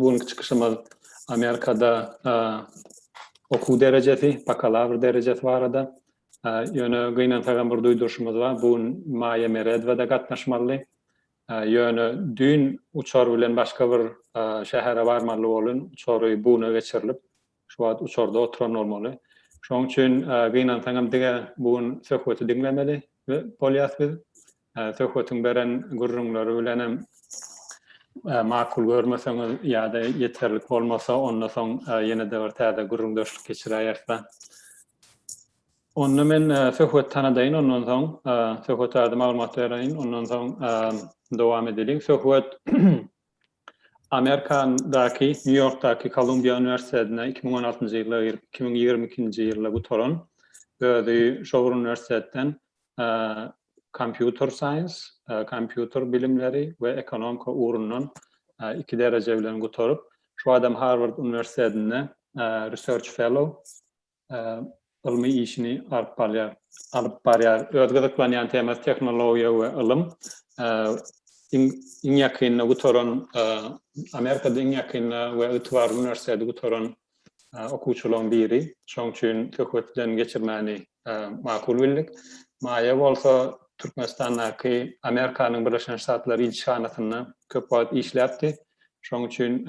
Bu günki çykyşymyz Amerikada okuw derejesi, bakalawr derejesi barada. Ýöne gynansagam bir duýduryşymyz bar. Bu gün Maýa Meredwa-da gatnaşmalydy. Ýöne düýn uçar bilen başga bir şähere barmaly bolan uçary bu güne geçirilip, şu wagt uçarda oturan bolmaly. Şonuň üçin gynansaňam diňe bu gün söhbeti diňlemeli bolýas biz. Söhbetiň beren gürrüňleri bilen hem makul görmeseňiz ýa-da ýeterlik bolmasa, onda soň ýene-de bir täze gürrüňdeşlik geçiräýeris-ä. Onda men söhbeti tanadaýyn, ondan soň söhbet barada maglumat bereýin, ondan soň dowam edeliň. Söhbet Amerikadaky, Nýu-Ýorkdaky Kolumbiýa uniwersitetine iki müň on altynjy ýylda girip, iki müň ýigrimi ikinji ýylda gutaran, özi şo bir uniwersitetden Computer Science, kompýuter bilimleri, we Ekonomika ugrundan iki dereje bilen gutaryp, şu adam Harward uniwersitetinde Research Fellow ylmy işini alyp barýar. Alyp barýar. Öz gyzyklanýan temasy tehnologiýa we ylym. Iň ýakynda gutaran, Amerikada iň ýakynda we ygtybarly uniwersiteti gutaran okuwçylaryň biri. Şoň üçin söhbet bilen geçirmäni makul bildik. Maýa bolsa Türkmenistandaky Amerikanyň Birleşen Ştatlary ilçihanasynda köp wagt işläpdi. Şoň üçin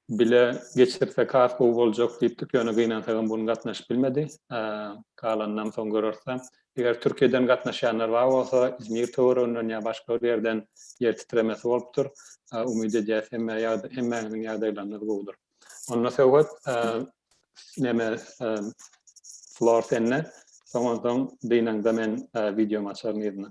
bile geçirsek has gowy boljak diýipdik, ýöne gynansagam bu gün gatnaşyp bilmedi. Galanynam soň göreris. Eger Türkiýeden gatnaşýanlar bar bolsa, Izmir töwereginden ýa başga bir ýerden ýer titremesi bolupdyr. Umyt edýäs hemmä ýagda hemmäňiziň ýagdaýlaryňyz gowudyr. Onda Söwhet neme flor sende soňansoň dynaňda men wideomy açaryn yzyna.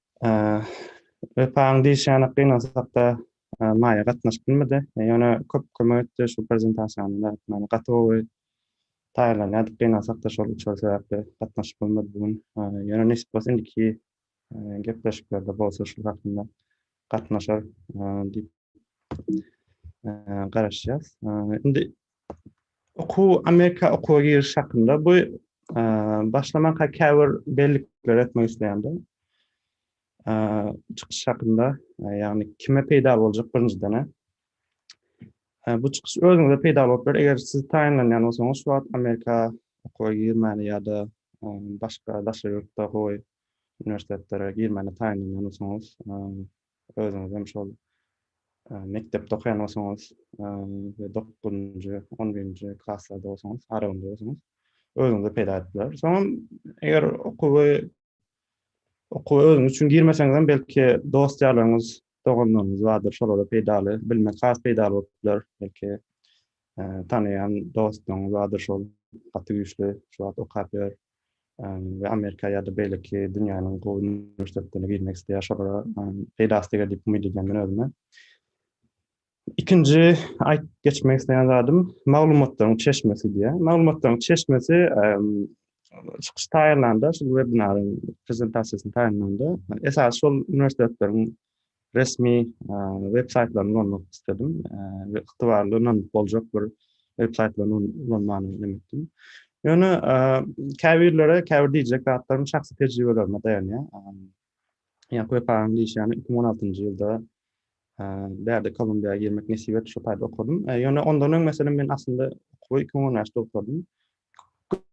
Wepaň diýişýäni gynansak-da, Maýa gatnaşyp bilmedi. Ýöne köp kömek etdi şu prezentasiýamyza. Ýöne gaty gowy taýýarlanýardyk, gynansak-da şol uçar sebäpli gatnaşyp bilmedi bu gün. Ýöne nesip bolsa indiki gepleşiklerde bolsa şul hakynda gatnaşar diýip garaşýas. Indi okuw Amerika okuwa giriş hakynda bu başlamanka käbir bellikleri etmek isleýändim. Çykyş hakynda, ýagny kime peýda boljak birinjiden. Bu çykyş özüňize peýda bolup biler, eger siz taýynlanýan bolsaňyz, şu wagt Amerika okuwa girmäni ýa-da başga daşary ýurtda gowy uniwersitetlara girmäni taýynlanýan bolsaňyz, Özüňizem şol mekdepde okaýan bolsaňyz we dokuzynjy, on birinji klaslarda bolsaňyz, aralygynda bolsaňyz, özüňize peýda edip biler. Soňam eger okuwy okuwa özüňiz üçin girmeseňizem, belki dost-ýarlaryňyz, doganlaryňyz bardyr, şolara peýdaly, bilmek has peýdaly bolup biler. Belki tanaýan dostuňyz bardyr, şol gaty güýçli, şu wagt okap ýör, we Amerika ýa-da beýleki dünýäniň gowy uniwersitetlerine girmek isleýär, şolara peýdasy deger diýip umyt edýän men özüme. Ikinji aýdyp geçmek isleýän zadym maglumatlaryň çeşmesi diýýär. Maglumatlaryň çeşmesi çykyş taýýarlanda, şu webinaryň prezentasiýasyny taýýarlanda esasy şol uniwersitetlerin resmi web saýtlaryny ulanmak isledim we ygtybarly ynanyp boljak bir web saýtlaryny ulanmany önem etdim. Ýöne käbirlere käbir diýjek zatlarym şahsy tejribelerime daýanýar. Ýa web agyň diýişýäni iki müň on altynjy ýylda bärde Kolumbiýa girmek nesip etdi, şo taýda okadym. Ýöne ondan öň meselem men aslynda okuwy iki müň on bäşde okadym.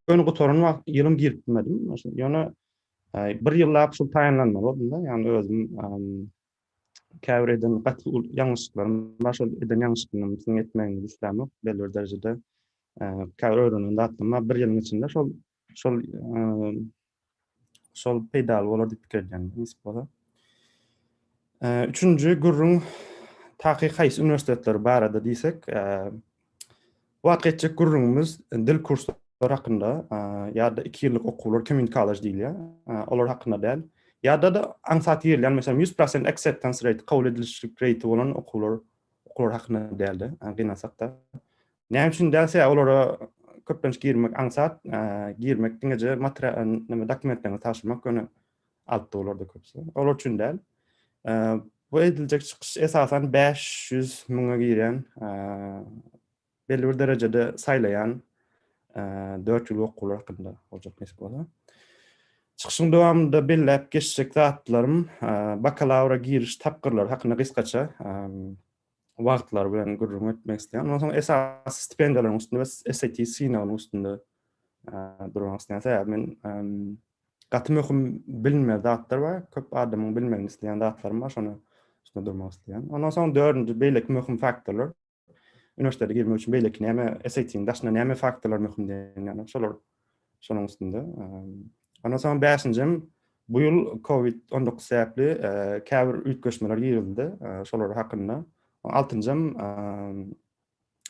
Göni gutaran wagt ýylym girip bilmedim. Ýöne bir ýyllap şul taýynlanmaly boldum-da, ýagny özüm käbir eden gaty ýalňyşlyklarym bar, şol eden ýalňyşlyklarymdan üstüni etmegimi islämok, belli bir derejede käbir öwrenen zatlarym bar, bir ýylyň içinde şol şol Şol peýdaly bolar diýip pikir edýän, nesip bolsa. Üçünji gürrüň taky haýsy uniwersitetler barada diýsek, bu wagtky etjek gürrüňimiz dil kurslary hakynda ýa-da iki ýyllyk okuwlar, community college diýilýär, olar hakynda däl. Ýa-da-da aňsat ýerleýän, meselem, 100% acceptance rate, kabul edilişlik reýti bolan okuwlar, okuwlar hakynda däl-de, gynansak-da. Näme üçin däl sebäbi olara köplenç girmek aňsat, girmek diňeje material näme dokumentlerini taşlamak ýöne alpdy olarda köpüsi. Olar üçin däl. Bu ediljek çykyş esasan 500 müňe giren belli bir derejede saýlaýan 4 ýyl okuwlar hakynda boljak nesip bolar. Çykyşyň dowamynda belläp geçjek zatlarym bakalawra giriş tapgyrlary hakynda gysgaça wagtlary bilen gürrüň etmek isteýän. Ondan soň esasy stipendiýalaryň üstünde we SAT synagynyň üstünde durmak isteýän. Sebäbi men gaty möhüm bilinme zatlar bar. Köp adamyň bilmegini isteýän zatlarym bar. Şony üstünde durmak isteýän. Ondan soň dördünji beýleki möhüm faktorlar. Üniversitete girmek üçin beýleki näme SAT-niň daşynda näme faktorlar möhüm diýen ýaly. Şolar Şonuň üstünde. Ondan soň bäşinjem bu ýyl COVID-19 sebäpli käbir üýtgeşmeler girizildi. Şolar hakynda. Altynjam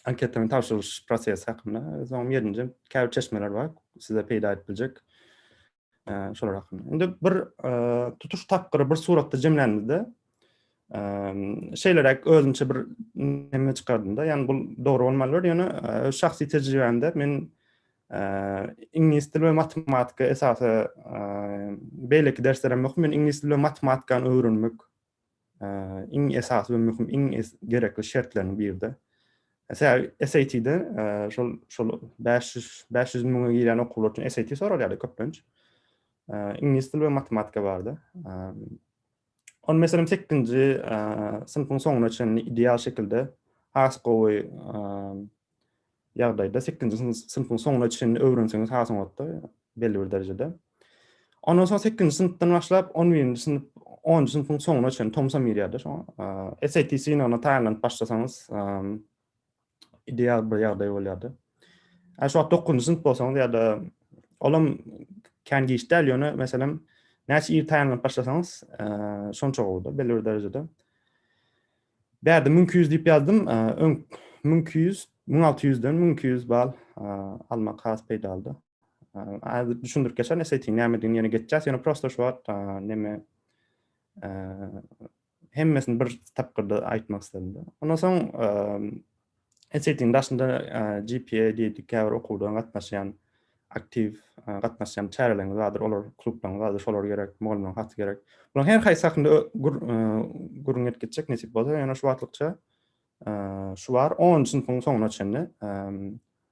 anketanyň tabşyrylyş prosesi hakynda. Soň ýedinjem käbir çeşmeler bar, size peýda edip biljek. Şolar hakynda. Indi bir tutuş tapgyry bir suratda jemlänimizde, şeýleräk özümçe bir neme çykardymda ýani bul dogry bolmalydyr ýöne öz şahsy tejribämde men iňlis dili we matematika esasy beýleki dersler hem möhüm men iňlis dili we matematikany öwrenmek iň esasy we möhüm iň gerekli şertleriniň biride SAT-de şol şol 500 500 müňe girýän okuwlar üçin SAT soralýardy köplenç iňlis dili we matematika bardy On meselem 8-nji synpyň soňuna çenli ideal şekilde has gowy ýagdaýda 8-nji synpyň soňuna çenli öwrenseňiz has oňatda belli bir derejede. Ondan soň 8-nji synpdan başlap 11-nji synp 10-njy synpyň soňuna çenli tomsa mirýärde şoňa. SAT synagyna taýynlanyp başlasaňyz ideal bir ýagdaý bolýardy. Ä şu wagt 9-njy synp bolsaňyz ýa-da olam kän giç däl, ýöne meselem näçe ir taýynlanyp başlasaňyz, şonça gowuda belli bir derejede. Bärde 1200 diýip ýazdym. Öň 1200, 1600-den 1200 bal almak has peýdalydy. Äze düşündirip geçen SAT nämedigini ýene geçjäs, ýöne prosta şu wagt näme Hemmesini bir tapgyrda aýtmak isledim-de. Ondan soň Esetiň daşynda GPA diýdik, käbir okuwda gatnaşýan aktiw gatnaşýan çäreleriňiz bardyr, olar klublaryňyz bardyr, şolar gerek, mugallymlaryň haty gerek. Bularyň her haýsy hakynda gürrüň edip geçjek nesip bolsa, ýöne şu wagtlykça şu bar, onunjy synpyň soňuna çenli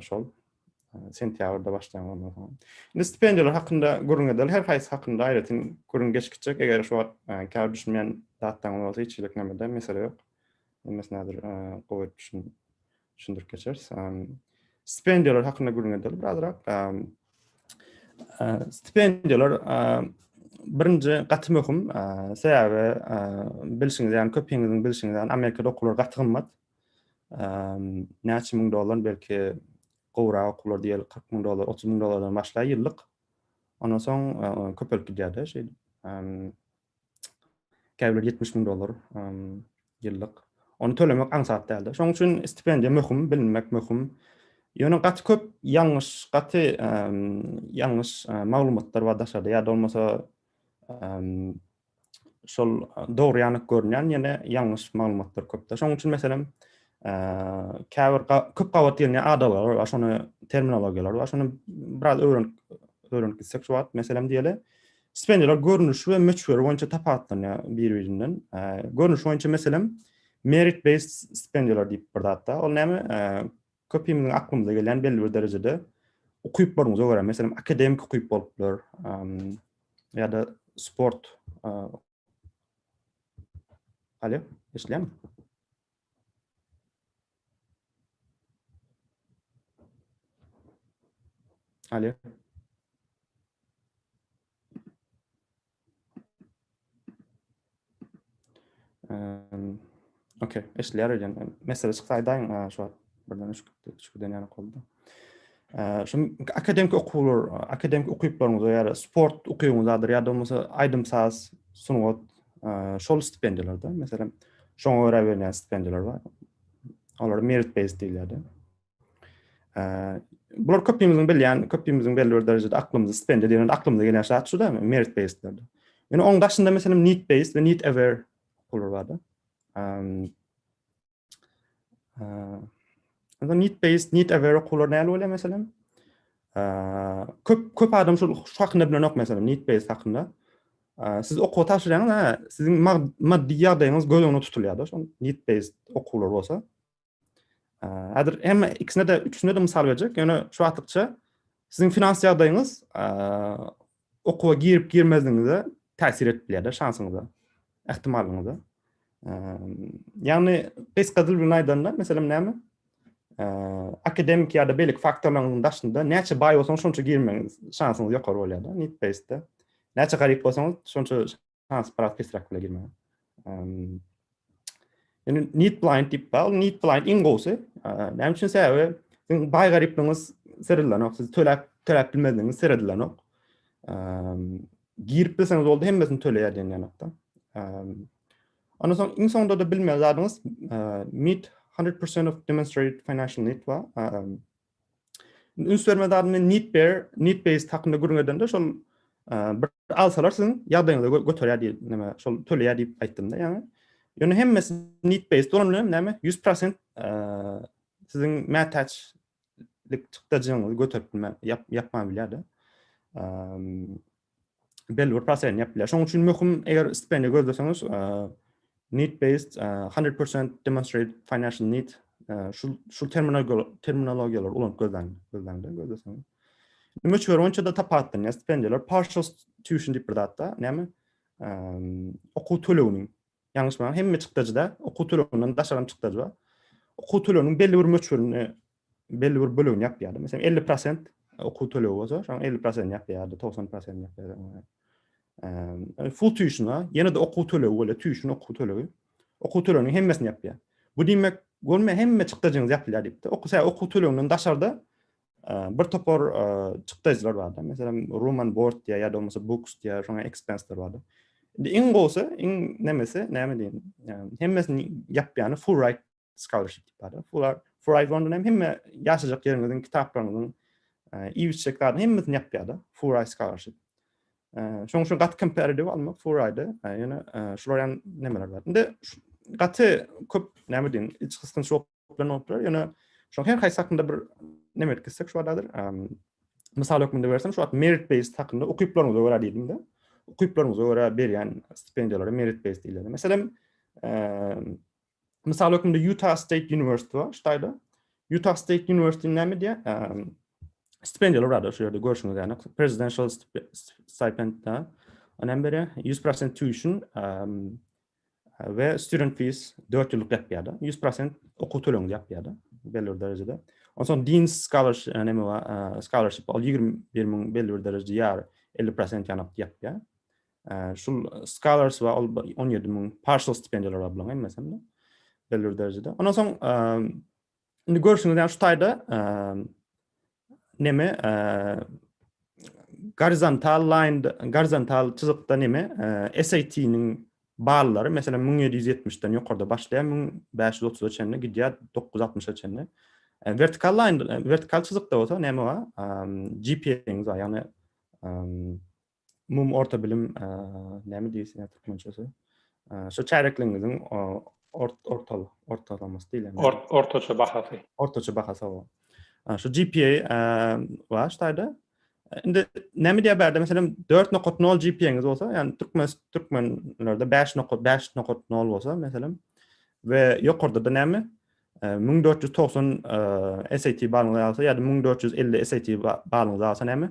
Şol sentýabrda başlaýan ondan soň. Indi stipendiýalar hakynda gürrüň edeli. Her haýsy hakynda aýratyn gürrüň geçip gitjek. Eger şu wagt käbir düşünmeýän zatlaryňyz bolsa hiç hilik nämede mesele ýok. Hemmesini häzir gowy etmişin düşündirip geçeris. Stipendiýalar hakynda gürrüň edeli birazrak. Stipendiýalar birinji gaty möhüm. Sebäbi bilşiňiz ýaly köpüňiziň bilşiňiz ýaly Amerikada okuwlar gaty gymmat. näçe müň dollar, belki gowrak okuwlar diýeli 40 müň dollar, 30 müň dollardan başlaýar ýyllyk. Ondan soň köpelip gidýär-de şeýdip. Käbirleri 70 müň dollar ýyllyk. Ony tölemek aňsat däldi. Şonuň üçin stipendiýa möhüm, bilinmek möhüm. Ýöne gaty köp ýalňyş, gaty ýalňyş maglumatlar bar daşarda ýa-da bolmasa şol dogry ýanyk görünýän ýene ýalňyş maglumatlar köpde. Şonuň üçin meselem, käbir köp gabat gelýän adalar bar, şony terminologiýalar bar. Şony biraz öwrenip öwrenip gitsek şu wagt, meselem diýeli, stipendiýalar görnüşi we möçberi boýunça tapawutlanýar bir-birinden. Görnüşi boýunça meselem, merit based stipendiýalar diýip bir zat bar. Ol näme? Köpimiziň aklymyza gelen belli bir derejede ukyplaryňyza görä, meselem, akademik ukyp bolup biler, ýa-da sport. Alo, eşidýärmi? Alo. Okey, eşitler öýden. Mesele çyksa aýdaýyň, şu wagt birden üç üç giden ýaly boldy. Şu akademik okuwlar, akademik ukyplaryňyz ýa-da sport ukybyňyz adyr ýa-da bolmasa aýdym saz, sungat, şol stipendiýalarda, meselem, şoňa görä berýän stipendiýalar bar. Olara merit-based diýilýär-de. Bular köpimiziň bilýän, köpimiziň belli bir derejede aklymyzy spend edýän, aklymyza gelýän şat şu da, merit based-lerde. Ýöne oň daşynda meselem need based we need aware pular bar da. Onda need based, need aware pular näle bolýar meselem? Köp köp adam şu hakynda bilenok meselem, need based hakynda. Siz okuwa tabşyrýaňyz, siziň maddy ýagdaýyňyz göz öňünde tutulýar da, şol need based okuwlar bolsa. Häzir hem ikisine de üçüne de mysal berjek. Ýöne şu wagtlykça siziň finans ýagdaýyňyz okuwa girip girmezligiňize täsir edip bilýär-de şansyňyza, ähtimallygyňyza. Ýagny gysga dil bilen aýdanda, meselem näme? Akademik ýa-da beýleki faktorlaryň daşynda näçe baý bolsaňyz, şonça girmegiň şansyňyz ýokary bolýar-da, need-based-de. Näçe garyp bolsaňyz, şonça Has biraz pesräk bile girme. Yani need blind dip bal, need blind in gowsy. Näme üçin sebäbi siz bay garipligiňiz sirlenok, siz töläp töläp bilmedigiňiz sirlenok. Girip bilseňiz boldy hemmesini töleýär diýen ýanakda. Ondan soň iň soňunda da bilmeli zadyňyz meet 100% of demonstrated financial need bar. Üns berme zadyny men need bear, need base hakynda gürrüň edende şol bir alsalar siziň ýagdaýyňyzy göterýär diýip, näme, şol töleýär diýip aýtdym-da ýaňy. Ýöne hemmesi need base bolan bilen näme, 100% siziň mätäçlik çykdajyňyzy göterip bilmän, ýapman bilýär-de. belli bir prosesini ýapyp bilýär. Şonuň üçin möhüm, eger stipendiýa gözleseňiz, need based 100% demonstrate financial need şu şu terminologiýalary ulanyp gözläň, gözläňde gözleseňiz. Möçber boýunça da tapatlanýar stipendiýalar, partial tuition diýip bir zatda, näme? Okuw töleginiň, ýalňyşmaýan hemme çykdajyda okuw töleginden daşary çykdajy bar. Okuw töleginiň belli bir möçberini belli bir bölegini ýapýardy. Meselem, 50% okuw tölegi bolsa, şoň 50%-ni ýapýardy, 90%-ni ýapýardy. Eee, full tuition-a, ýene-de okuw tölegi bolýar, tuition okuw tölegi. Okuw töleginiň hemmesini ýapýar. Bu diýmek, görme hemme çykdajyňyz ýapylýar diýipdi. Okuw, okuw töleginden daşarda bir topar çykdajylar bardy. Meselem, room and board diýär ýa-da bolmasa books diýär, şoňa expense-ler bardy. Indi iň gowsy, iň nemesi, näme diýen, hemmesini ýapýany full ride scholarship diýip barlar. Fular Furai London hem hemme ýaşajak ýeriňiziň kitaplaryňyzyň iýip içjek zadyny hemmesini ýapýar-da. Furai scholarship. Şoň üçin gaty kompetitiv almak Furaide, ýöne şular hem nemeler bar. Indi gaty köp näme diýin, iç gysgynç oplan bolupdyr, ýöne şoň her haýsy hakynda bir neme etkizsek şu adadyr. Mysal hökmünde bersem, şu wagt merit based hakynda ukyplaryňyza görä diýdim-de. Ukyplaryňyza görä berýän stipendiýalara merit based diýilýär. Meselem, Mysal hökmünde Utah State University bar, ştaýda. Utah State University näme diýýär? Ehm, stipendiýalar bardyr şu ýerde görşüňiz ýaly. Presidential stipend da. Onem bere 100% tuition ehm, we student fees 4 ýyllyk ýapýar da. 100% okuw tölegini ýapýar da belli bir derejede. Onsoň Dean scholarship e, näme bar? Ehm, scholarship ol 21 müň belli bir derejede ýar 50% ýanyk ýapýar. Şul scholars we ol 17 müň partial stipendiýalar bilen hem meselem. Belli derejede. Ondan soň indi görüşüňiz ýa şu taýda neme gorizontal line gorizontal çyzykda neme SAT-niň ballary meselem 1770-den ýokarda başlaýar 1530-a çenli gidýär 960-a çenli. Vertikal line vertikal çyzykda bolsa neme bar? GPA-niň ýagny umumy orta bilim näme diýilsin türkmençesi şu çärekligiňiziň ortal ortalamasy diýilýär ortaça bahasy ortaça bahasy o şu gpa bar ştaýda indi näme diýýär bärde meselem dört nokat nol gpaňiz bolsa ýani türkmen türkmenlerde bäş nokat bäş nokat nol bolsa meselem we ýokarda da näme 1490 SAT balyňyz ýa-da 1450 SAT balyňyz alsa näme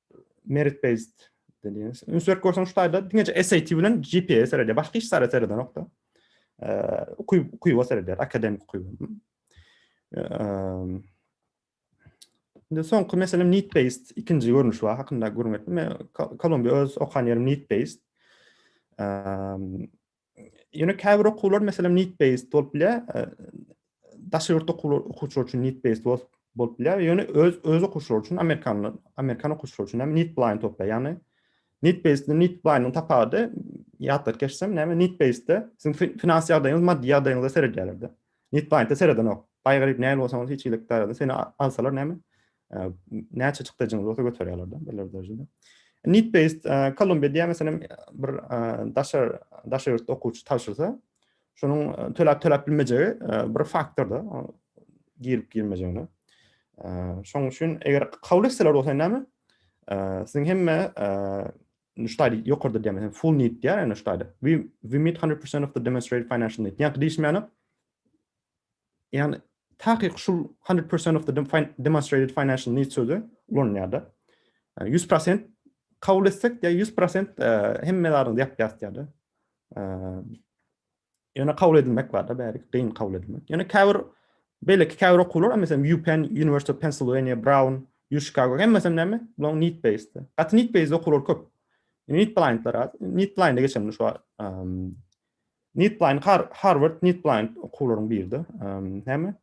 merit based dediğiniz. Üns berip görseň şu taýda diňeje SAT bilen GPA serediýär. Başga hiç zara seredenokda. Ukyp ukyba seredýär, akademik ukyba. Indi soňky meselem need based ikinji görnüş bar hakynda gürrüň etdim. Kolumbiýa öz okan ýerim need based. Ýöne käbir okuwlar meselem need based bolup bilýär. Daşary ýurt okuwçylary üçin need based bolup bilýär. Ýöne öz öz okuwçylary üçin amerikanlar, amerikan okuwçylary üçin hem need blind bolup bilýär. Ýagny need based ile need blind-iň tapawudy ýatlap geçsem, näme need based-de siziň finans ýagdaýyňyz, maddy ýagdaýyňyza seredýärler-de. Need blind-de seredenok. Baý garyp nähili bolsaňyz hiç hilik daýrada seni alsalar näme? Näçe çykdajyňyz bolsa göterýärler-de beler derejede. Need based Kolumbiýa diýen meselem bir daşary daşary ýurtda okuwçy tabşyrsa, şonuň töläp töläp bilmejegi bir faktorda girip girmejegine. Şoň üçin eger kabul etseler bolsa näme? Siziň hemme ştaýda ýokarda diýen full need diýär ene ştaýda. We we meet 100% of the demonstrated financial need. Ýa-da diýişmäne Ýagny, takyk şul hundred percent of the demonstrated financial needs sözi ulanylýar-da. Ýüz prosent kabul etsek, diýýär, ýüz prosent hemme zadyňyzy ýapýarys diýýär-de. Ýöne kabul edilmek bar-da, bäri gyn kabul edilmek. Ýöne käbir beýleki käbir okuwlar, meselem, UPenn, University of Pennsylvania, Brown, U Chicago, hemmesem näme? Bulaň need based. Gaty need based okuwlar köp. Need blindler az. Need blinde geçelim şu NetBlind, Harward NetBlind okuwlaryň birde. Näme?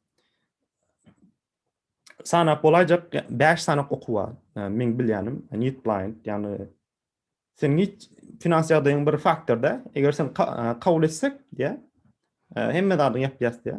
Sanap bolaýjak 5 sanak okuw bar. Meň bilýänim NetBlind, ýagny sen hiç finans ýagdaýyň bir faktorda, eger sen kabul etsek, ýa hemme zadyň ýapýas diýä.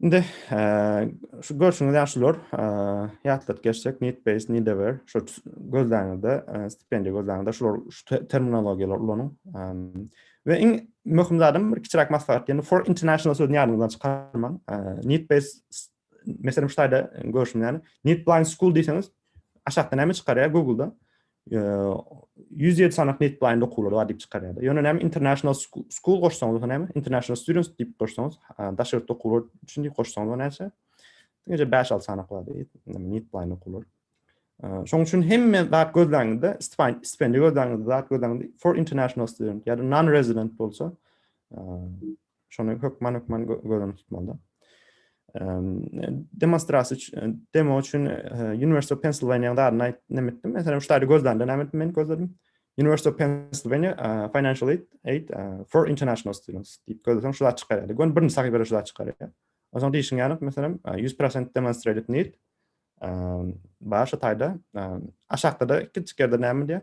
Indi şu görşüňiz ýaly şular ýatladyp geçsek Nitbase, Nidever şu gözläňizde stipendiýa gözläňizde şular şu terminologiýalar ulanyň. We iň möhüm zadym bir kiçiräk maslahat ýene for international sözüni ýadyňyzdan çykarmaň. Nitbase Meselem şu taýda görüşüm ýaly, Need Blind School diýseňiz, aşakda näme çykarýar Google-da? 107 sanak Need Blind okuwlary bar diýip çykarýar. Ýöne näme International School goşsaňyz, näme International Students diýip goşsaňyz, daşary ýurt okuwlary üçin diýip goşsaňyz näçe? Diňe 5-6 sanak bar diýip, Need Blind okuwlary. Şoň üçin hemme zat gözläňizde, stipendiýa gözläňizde, zat gözläňizde for international student ýa-da non-resident bolsa, Şony hökman hökman göz öňünde tutmaly. Demonstrasiýa üçin, demo üçin University of Pennsylvania dadyny aýt näme etdim? Meselem, şu taýda gözlände näme etdim men gözledim? University of Pennsylvania uh, Financial Aid, aid uh, for International Students diýip gözleseň şu zat çykar. Gön birinji sahypada şu zat çykar. Onsoň diýişiň ýaly, meselem, 100% demonstrated need um, bar şu taýda. Um, aşakda-da kiçik ýerde näme diýär?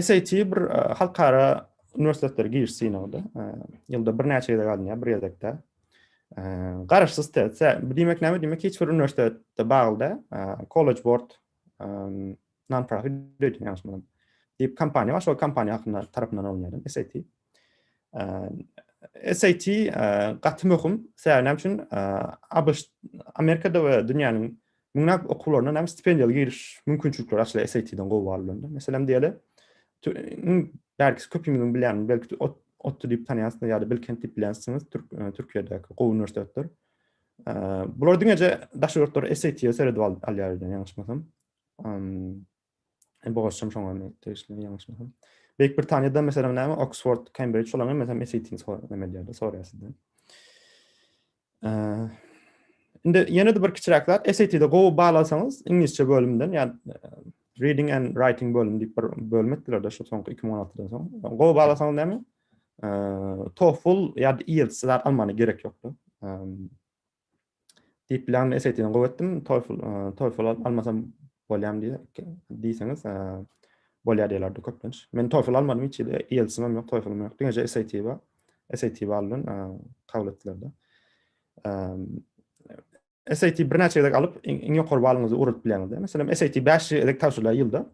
SAT bir halkara uniwersitetleri giriş synagynda ýylda birnäçe gezek alynýar, bir gezekde. Garaşsyz test. Bu diýmek näme? Diýmek hiç bir uniwersitetde bagly da College Board non-profit diýip ýaşmadan. Diýip kompaniýa bar, şol kompaniýa hakynda tarapyndan alynýar SAT. SAT gaty möhüm. Sebäbi näme üçin? ABŞ Amerikada we dünýäniň Mundan okuwlaryndan hem stipendiýaly giriş mümkinçilikleri açylar SAT-den gowy bal bilen. Meselem diýeli, belki köpümiziň bilýän, belki otdy diýip tanýansyňyz ýa-da Bilkent diýip bilýänsiňiz, Türkiýedäki gowy uniwersitetler. Bular diňeje daşary ýurtlar SAT-e seredip alýar ýaňyşmasam. Hem bu goşum şoňa men degişli ýalňyşmasam. Beýik Britaniýada meselem näme Oxford, Cambridge şolaňy meselem SAT-ni sor, näme diýýärler, soraýar sizden. Eee Indi ýene de bir kiçiräk zat, SAT-de gowy bal alsaňyz, iňlisçe bölümden, ýa-ni reading and writing bölümi diýip bir bölüm etdiler-de şu soňky 2016-dan soň. Gowy bal alsaňyz näme? Eee TOEFL ýa-da IELTS zat almana gerek ýokdy. Eee Deep Learning SAT-ni gowy etdim, TOEFL, TOEFL alyp almasam bolýam diýe, diýseňiz, bolýar diýerlerdi köplenç. Men TOEFL almadym hiç ýerde, IELTS-im hem ýok, TOEFL-ym ýok, diňeje SAT bar. SAT baldan kabul etdiler-de. SAT birnäçe gezek alyp, iň ýokary balyňyzy ugradyp bilýäňiz-de. Meselem, SAT 5 gezek tabşyrylar ýylda.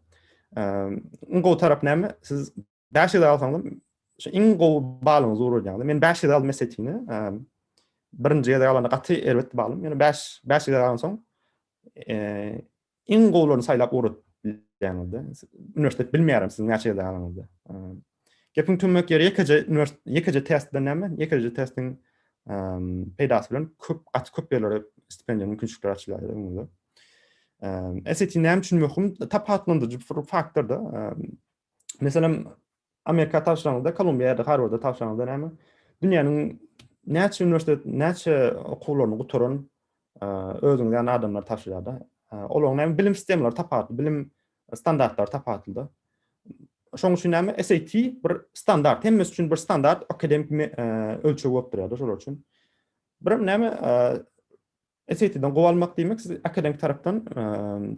Iň gowy tarapy näme? Siz Bäş ýüz alsaňda şu iň gowy balyňy zururýaňda. Men bäş ýüz aldym SAT-ni. Birinji gezek alanda gaty erbet balym. Ýöne bäş bäş ýüz alan soň iň gowularyny saýlap ugradyp bilýäňizde. Uniwersitet bilmeýärin siz näçe ýerde alanyňyzda. Gepiň tümmek ýeri ýekeje uniwersitet ýekeje test bilen näme? Ýekeje testiň peýdasy bilen köp gaty köp ýerlere stipendiýa mümkinçilikleri açylýar öňüňizde. SAT näme üçin möhüm? Tapawutlandyryjy faktorda Meselem, Amerika tabşyraňyzda, Kolumbiýa ýa-da Harwarda tabşyraňyzda näme? Dünýäniň näçe uniwersitet, näçe okuwlaryny gutaran özüňiz ýaly adamlar tabşyrýar-da. Olaryň näme bilim sistemalary tapawutly, bilim standartlary tapawutly-da. Şonuň üçin näme SAT bir standart, hemmesi üçin bir standart akademik ölçeg bolup durýar-da şolar üçin. Bir näme SAT-den gowy almak diýmek siz akademik tarapdan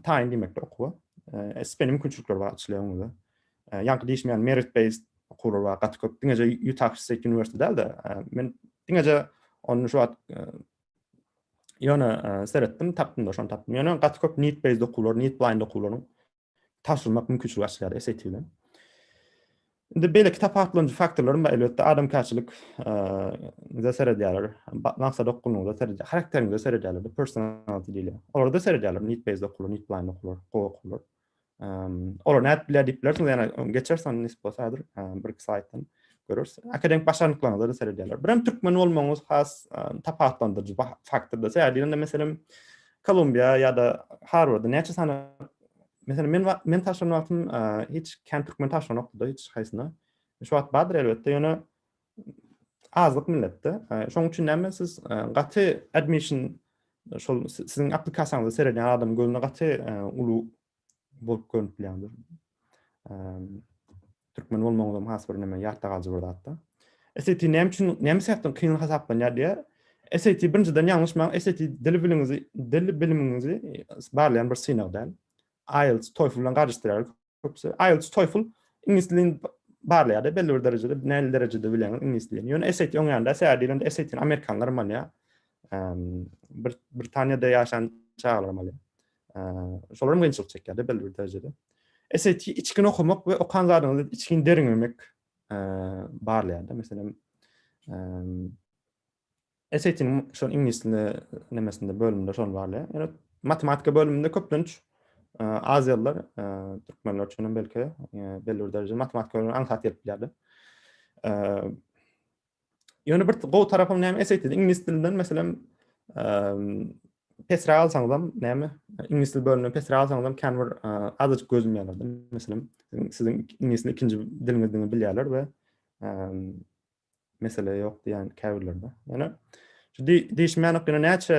taýyn diýmekdir okuwa. SPN mümkinçilikleri bar açylýar öňüňizde. Ýaňky diýişim ýaly merit based okuwlar bar gaty köp. Diňeje Utah State University däl-de, men diňeje ony şu wagt ýöne seretdim, tapdym-da, şony tapdym. Ýöne gaty köp need based okuwlar, need blind okuwlaryň tabşyrmak mümkinçiligi açylýar SAT bilen. Indi beýle kitap aklanyjy faktorlaryň bar elbetde adamkärçilik da seredýärler. Maksat okunyňda seredýär. Karakteriňde seredýärler. Bu personality diýilýär. Olar da seredýärler. Need based okular, need blind okular, gowy okular. Olar nädip bilýär diýip bilersiňiz. Ýa-da geçersiň nisbi bolsa häzir bir iki slaýddan. Görürsüň. Akademik başarnyklaryňyza da seredýärler. Birem türkmen bolmagyňyz has tapawutlandyryjy faktordyr. Sebäbi diýende meselem Kolumbiýa ýa-da Harwarda näçe sany meselem men men taşlan wagtym hiç kän türkmen taşlan ýokdy hiç haýsyna. Şu wagt bardyr elbetde, ýöne azlyk milletde. Şonuň üçin näme siz gaty admission şol siziň applikasiýaňyzy seredýän adam gözüne gaty uly bolup görünip bilýändir. Türkmen bolmagyňyz hem has bir näme ýatda galyjy bir zatda. SAT näme üçin näme sebäpden kyn hasaplanýar diýär. SAT birinjiden ýalňyşmaň, SAT dil biliňizi, dil bilimiňizi barlaýan bir synag däl. IELTS, TOEFL bilen garyşdyrýar köpüsi. IELTS, TOEFL iňlis dilini barlaýar belli bir derejede, näli derejede bilýäňiz iňlis dilini. Ýöne SAT oň ýanynda, sebäbi diýlende SAT-ni amerikanlar hem alýar. Britaniýada ýaşan çagalar hem alýar. Şolar hem gynçylyk çekýärdi belli bir derejede. SAT içgin okamak we okan zadyňyzy içgin derňemek barlaýardy. Meselem, SAT-niň şol iňlis dilinde nemesinde bölüminde şol barlaýar. Ýöne matematika bölüminde köplenç aziýalylar, türkmenler üçin hem belki belli bir derejede matematika bilen aňsat gelip bilýärdi. Ýöne bir gowy tarapym näme eseýdi? Iňlis dilinden meselem pesräk alsaňyz hem näme? Iňlis dil bölümine pesräk alsaňyz hem kän bir azajyk gözüm ýanardy. Meselem, siziň iňlis ikinji diliňizdigini bilýärler we mesele ýok diýen käbirlerde. Ýöne şu diýişmänik ýöne näçe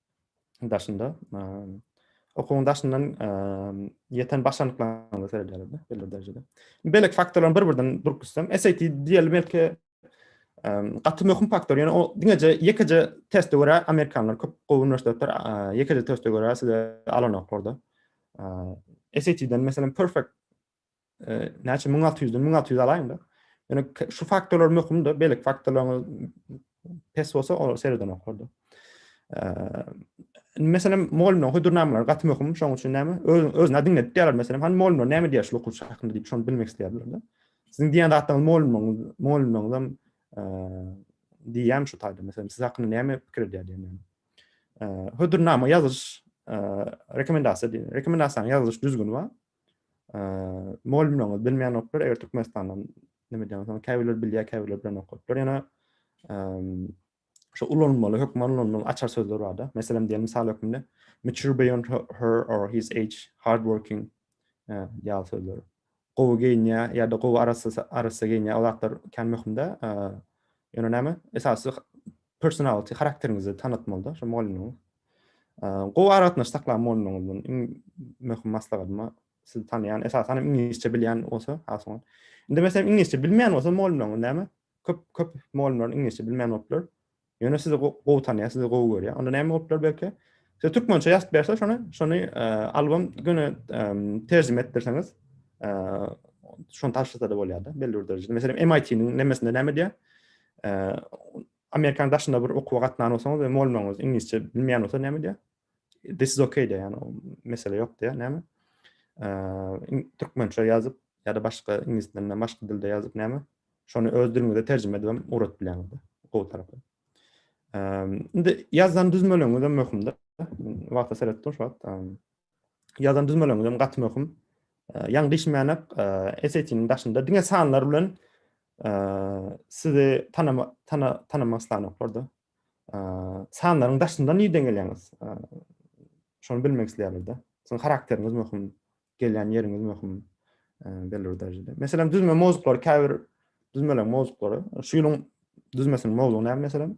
daşynda okuwyň daşyndan ýeten başarnyklaryňyza seredýärler belli bir derejede. Beýleki faktorlaryň bir-birden durup gitsem, SAT diýeli belki gaty möhüm faktor. Ýöne o diňeje ýekeje teste görä amerikanlar köp gowy uniwersitetler ýekeje teste görä size alanoklarda. SAT-den meselem perfect näçe müň alty ýüzden müň alty ýüz alaýyňda ýöne şu faktorlar möhümdir beýleki faktorlaryň pes bolsa olar sereden okardy meselem mugallymlaryň hödürnamalary gaty möhüm şoň üçin näme öz özüne diňledip diýerler meselem hany mugallymlar näme diýer şu okuwçy hakynda diýip şony bilmek isleýärler siziň diýen zatlaryňyz mugallymlaryň mugallymlaryň hem diýýän şu taýda meselem siz hakynda näme pikir edýär diýen hödürnama ýazyş rekomendasiýa diýen rekomendasiýanyň ýazylyş düzgüni bar Mugallymlaryňyz bilmeýänoklar, eger Türkmenistandan näme diýýän bolsaňyz, käbirleri bilýär, käbirleri bilen okadyplar. Ýöne şu ulanmaly, hökman ulanmaly açar sözler bar-da. Meselem diýen mysal hökmünde mature beyond her or his age, hard working ýaly sözler. Gowy geýinýär ýa-da gowy arassa arassa geýinýär. Ol zatlar kän möhümde. Ýöne näme? Esasy personality harakteriňizi tanatmalyda şo mugallymyň gowy aragatnaşyk saklan mugallymyňyzdan iň möhüm maslahatyma sizi tanaýan esasan hem iňlisçe bilýän bolsa has oňat indi meselem iňlisçe bilmeýän bolsa mugallymyňyz näme köp köp mugallymlar iňlisçe bilmeýän boluplar ýöne sizi gowy tanaýar sizi gowy görýär onda näme boluplar belki size türkmençe ýazyp berse şony şony album göni terjime etdirseňiz şony taşlasa-da bolýar-da belli bir derejede meselem MIT-niň nemesinde näme diýýär Amerikan daşynda bir okuwa gatnan bolsaňyz we molmaňyz iňlisçe bilmeýän bolsa näme diýär? This is okay diýär, ýagny mesele ýok diýär, näme? Türkmençe ýazyp ýa-da başga iňlis dilinde, başga dilde ýazyp näme? Şony öz diliňize terjime edip hem ugrat bilýäňiz. Gowy tarapy. Indi ýazan düzmeleňiz hem möhümdir. Wagta seretdim şu wagt. Ýazan düzmeleňizem gaty möhüm. Ýaňy diýişmänek, SAT-niň daşynda diňe sanlar bilen sizi tanama tana tanamak islanoklarda. Sanlaryň daşynda nirden gelýäňiz? Şony bilmek isleýärler-de. Siziň harakteriňiz möhüm, gelýän ýeriňiz möhüm belli bir derejede. Meselem, düzme mowzuklary käbir düzmeleň mowzuklary, şu ýylyň düzmesiniň mowzugy näme meselem?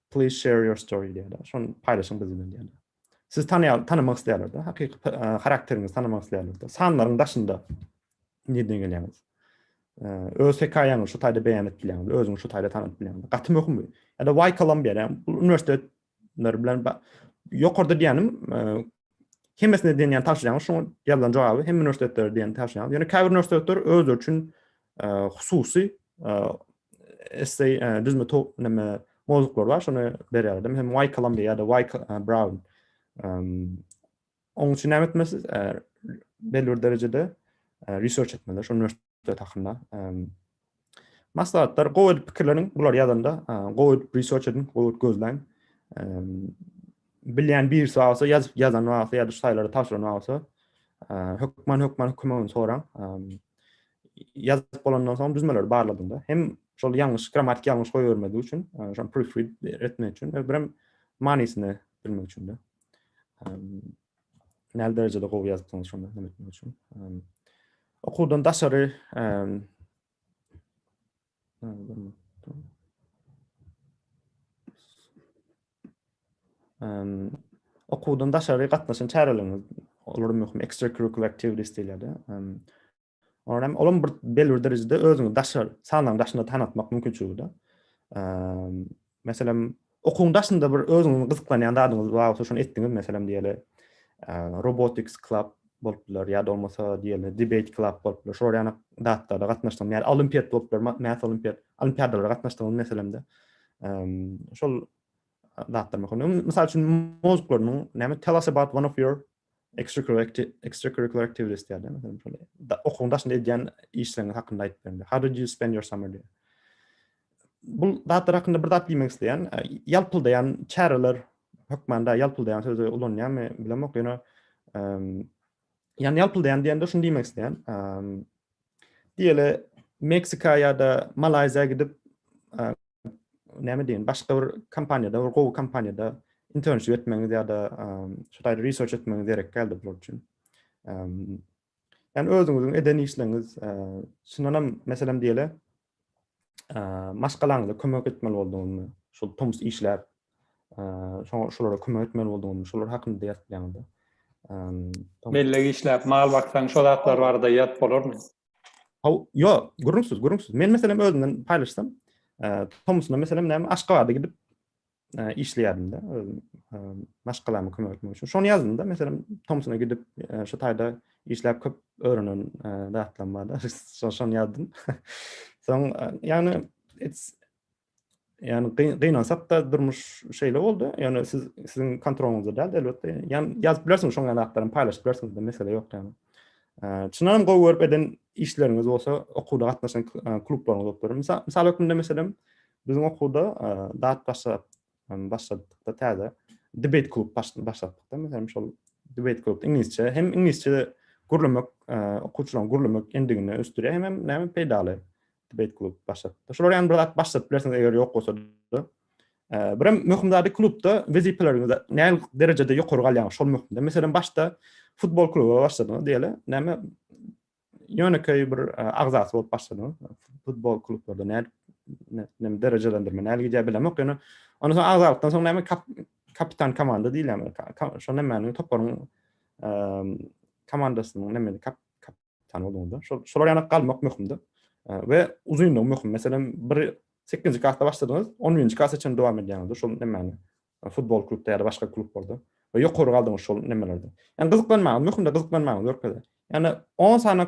Please share your story diýýärler. Şony paýlaşyň biz bilen diýýärler. Sizi tanaýar, tanamak isleýärler-de, hakyky harakteriňizi tanamak isleýärler-de. Sanlaryň daşynda nirden gelýäňiz? Öz hekaýaňyzy şu taýda beýan edip bilýäňizmi? Özüňi şu taýda tanap bilýäňizmi? Gaty möhüm bu. Ýa-da Why Columbia? Ýa-da bu uniwersitetler bilen ýokarda diýýänim, Hemmesine diýen ýaly tabşyrýaňyz, şoňa ýazylan jogaby hem uniwersitetler diýen tabşyrýaňyz. Ýöne käbir uniwersitetler özleri üçin e, hususy e, essay e, düzme to näme mowzuklar bar, şony berýärdim. Hem Y Columbia ýa-da Y Brown. Onuň üçin näme etmesiz? Belli bir derejede research etmeli, şonu Söhbet hakynda. Maslahatlar gowy edip pikirleniň, bular ýazanda gowy edip research ediň, gowy edip gözläň. Bilýän birisi bar bolsa, ýazyp ýazan bar bolsa ýa-da şu saýlary tabşyran bar bolsa, hökman hökman kömegini soraň. Ýazyp bolandan soň düzmeleri barladyňda hem şol ýalňyş grammatik ýalňyş goýbermezlik üçin, şony proofread etmek üçin we birem manysyny bilmek üçin-de. Näli derejede gowy ýazypsyňyz şonda näme etmek üçin? Okuwdan daşary okuwdan daşary gatnaşan çäreleriňiz, olar möhüm extracurricular activities diýilýär-de. Olar hem olam bir belli bir derejede özüňi daşary sanaň daşynda tanatmak mümkinçiligi de. Meselem, okuň daşynda bir özüňizi gyzyklanýan zadyňyz bar bolsa şony etdiňiz meselem diýeli. Robotics club bolup biler ýa da bolmasa diýeli debate club bolup biler. Şolar ýaly zatlarda gatnaşdyň. Ýa olimpiýat bolup biler, math olimpiýat, olimpiýadalara gatnaşdyňyz meselemde. Şol zatlar möhüm. Mysal üçin mozguklaryň näme tell us about one of your Extracurricular activities diýýär, meselem, şol okuwyň daşynda edýän işleriňiz hakynda aýdyp berme. How did you spend your summer diýýär. Bul zatlar hakynda bir zat diýmek isleýän, ýalpyldaýan çäreler hökmanda ýalpyldaýan sözi ulanýarmy bilemok, ýöne ýany ýalpyldaýan diýende şuny diýmek isleýän. Diýeli Meksika ýa-da Malaýziýa gidip näme diýen başga bir kompaniýada, bir gowy kompaniýada internship etmegiňiz ýa-da şu taýda research etmegiňiz gerek geldi bular üçin. Yani özüňiziň eden işleňiz, şundan hem meselem diýeli, maşgalaňyza kömek etmeli boldugyňyzy, şol tomus işläp, şoňa şolara kömek etmeli boldugyňyzy, şolar hakynda ýazyp bileňizdi. Melle işläp, mal baksaň, şol zatlar barada ýazyp bolarmy? Haw, ýok, gürrüňsiz, gürrüňsiz. Men meselem özümden paýlaşsam, tomusuna meselem näme Aşgabatda gidip, işleýärdim-de, maşgalama kömek etmek üçin. Şony ýazdym-da, meselem, Tomsona gidip, şu taýda işläp köp öwrenen zatlarym bar-da, şony ýazdym. Soň, ýagny, ýagny gynansak-da, durmuş şeýle boldy. Ýagny siz, siziň kontrolyňyzda däl, elbetde. Ýagny ýazyp bilersiňiz, şoňa ýaly zatlaram paýlaşyp bilersiňiz-de, mesele ýok ýagny. Çyndanam gowy görüp eden işleriňiz bolsa, okuwda gatnaşan klublaryňyz bolup biler. Mysal hökmünde, meselem, Biziň okuwda dat başlap başladykda täze debate klub başlatdykda meselem şol debate klub iňlisçe hem iňlisçe gürlemek okuwçylaryň gürlemek endigini ösdürýär hem hem näme peýdaly debate klub başlatdykda şolar ýany bir zat başladyp bilersiňiz eger ýok bolsa bir hem möhüm zady klubda wezipeleriňiz ne derejede ýokary galýar şol möhümde meselem başda futbol kluby başladyňyz diýeli näme ýönekeý bir agzasy bolup başladym. Futbol klublarda nädip näme derejelendirme nädip gidýär bilemok. Ýöne ondan soň agzalykdan soň näme kapitan komanda diýilýär. Şo nämäniň toparyň komandasynyň näme kapitan bolanda. Şol şolar ýanyk galmak möhümdi. We uzynlygy möhüm. Meselem, bir 8-nji klasda başladyňyz, 10-njy klasa çenli dowam edýäňiz. Şol nämäni futbol klubda ýa-da başga klublarda we ýokary galdyňyz şol nemelerde. Ýani gyzyklanmaňyz, möhümde gyzyklanmaňyz görkezýär. Ýani 10 sany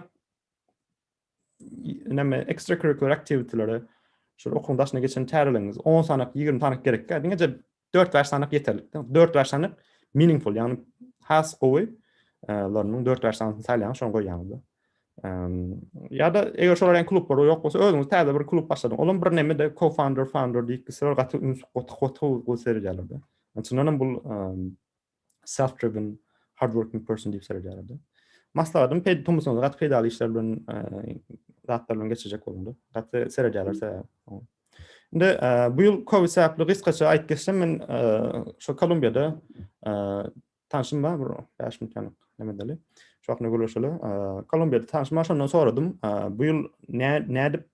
näme extracurricular activity-lere şol okuwyň daşyna geçen çäreligiňiz 10 sany, 20 sany gerekkä, diňeje 4-5 sany ýeterlik. 4-5 sany meaningful, ýani has gowy, larynyň 4-5 sanysyny saýlaýaňyz, şony goýýaňyz. ya da eger şolar ýaly klublar ýok bolsa özüňiz täze bir klub başladyň. Olam bir näme de co-founder, founder diýip gitseler gaty üns goty goty gowy seredýärler de. Ondan bu self driven hard working person diýip seredýärler de. Maslahatym pedi tumusyňyz gaty peýdaly işler bilen zatlar bilen geçirjek bolundy. Gaty seredýärler size. Indi bu ýyl covid sebäpli gysgaça aýdyp geçsem men şu Kolumbiýada Tanşym bar bir bäş minut ýanyk näme edeli. Şu hakda gürleşeli. Kolumbiýada tanşym bar şondan soradym. Bu ýyl nä nädip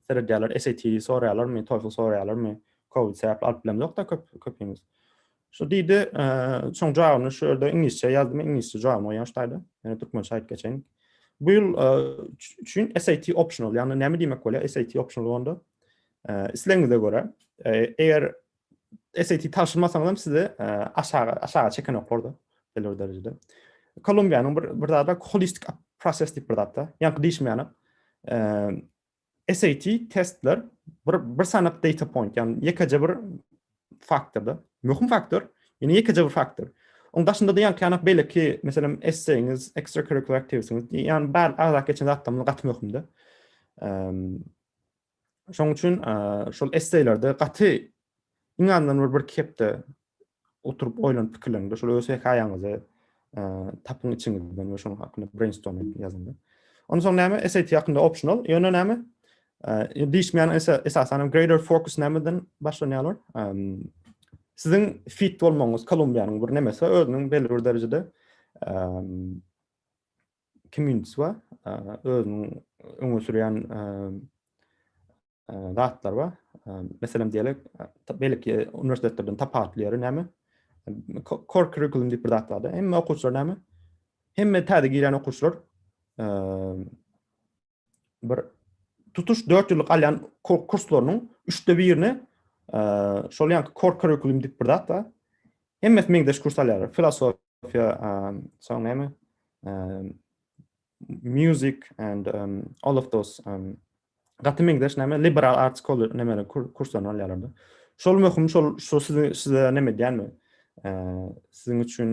seredýärler SAT soraýarlarmy, TOEFL soraýarlarmy? Covid sebäpli alyp bilemzok-da köp köpimiz. Şu diýdi, şoň jawabyny şu ýerde iňlisçe ýazdym, iňlisçe jawabyny goýýan şu taýda. Ýöne türkmençe aýdyp geçeýin. Bu ýyl üçin SAT optional, ýagny näme diýmek bolýar SAT optional onda? Islegiňize görä, eger SAT tabşyrmasaňyzam sizi aşaga aşaga çeken oklarda belli bir derejede. Kolumbiýanyň bir bir zada holistik proses diýip bir zatda. Ýaňky diýişmäne. SAT testler bir bir sanap data point, ýagny ýekeje bir faktorda. Möhüm faktor, ýene ýekeje bir faktor. Oň daşynda diýen ki, anak belki, meselem, esseýiňiz, extracurricular activitiesiňiz, ýagny bar agzak geçen zatlarymyz gaty möhümdi. Şoň üçin şol esseýlerde gaty iň azyndan bir bir kepde oturyp oýlanyp pikirlende şol öz hekaýaňyzy tapyň içiňizden we şonuň hakynda brainstorm edip ýazyň. Ondan soň näme? SAT hakynda optional. Ýöne näme? Dişmän esa esasan greater focus nämeden başlanýarlar? Siziň fit bolmagyňyz Kolumbiýanyň bir nemesi özüniň belli bir derejede Kim Ýun-swa özüniň öňe sürýän zatlary bar. Meselem diýelik, beýleki uniwersitetlerden tapawutly ýeri näme? Core curriculum diýip bir zat bar-da. Hemme okuwçylar näme? Hemme täze girýän okuwçylar bir tutuş 4 ýyllyk alýan kurslarynyň 3-de birini e, şol ýanky core curriculum diýip bir zat bar. Hemmesi meňzeş kurs alýarlar. Filosofiýa, e, soň näme? E, music and um, all of those um, gaty meňzeş näme? Liberal arts college näme kurslaryny alýarlar. Şol möhüm, şol şol size size näme diýýänmi? E, siziň üçin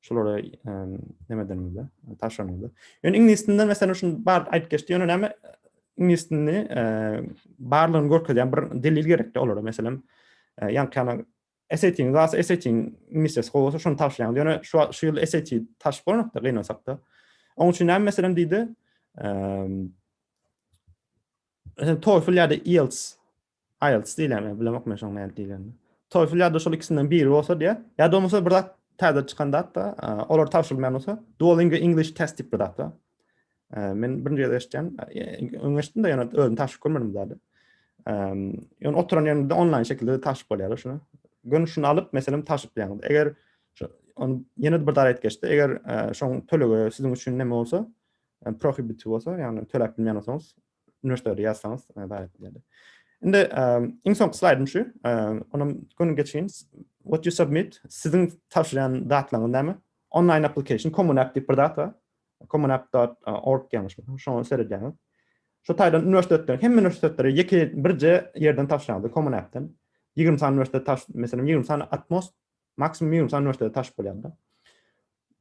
Şulara näme diýmeli? Taşlanmaly. Ýöne iňlis dilinden meselem şunu bar aýdyp geçdi. Ýöne näme iňlis dilini barlygyny görkezýän bir delil gerekdi olara. Meselem, ýaňkyna SAT-iň, zas SAT-iň iňlisçesi gowy bolsa şonu taşlaýaň. Ýöne şu şu ýyl SAT taşyp bolmakda gynasakda. Oň üçin näme meselem diýdi? Ehm TOEFL ýa-da IELTS Ielts diýilýär men bilemok men şoň nädip diýilýänini. Toefl ýa-da şol ikisinden biri bolsa diýä. Ýa-da bolmasa bir zat täze çykan zatda, olar tabşyrylmaýan bolsa, Duolingo English Test diýip bir zat bar. Men birinji gezek eşitýän. Öň eşitdim-de ýöne özüm tabşyryp görmedim bu zady. Ýöne oturan ýeriňizde onlaýn şekilde tabşyryp bolýar şuny. Görnüşini alyp, meselem, tabşyryp bilýäňiz. Eger ony ýene-de bir zat geçdi. Eger şoň tölegi siziň üçin näme bolsa, prohibit bolsa, ýagny töläp bilmeýän bolsaňyz, Üniversitede ýazsaňyz zahmet edýärdi. Indi iň soňky slaýdym şu. Onam göni geçeýin. What you submit siziň tabşyrýan zatlaryňyz näme? Online application Common App diýip bir zat bar. Common App.org ýaňyşmasam, şoňa seredýäňiz. Şu taýdan üniversitetler, hemme üniversitetlere ýeke birje ýerden tabşyrýardy Common App-den. 20 sany üniversitet tabşyr, meselem 20 sany Atmos Maksimum minimum san üniversitede taşyp bolýanda.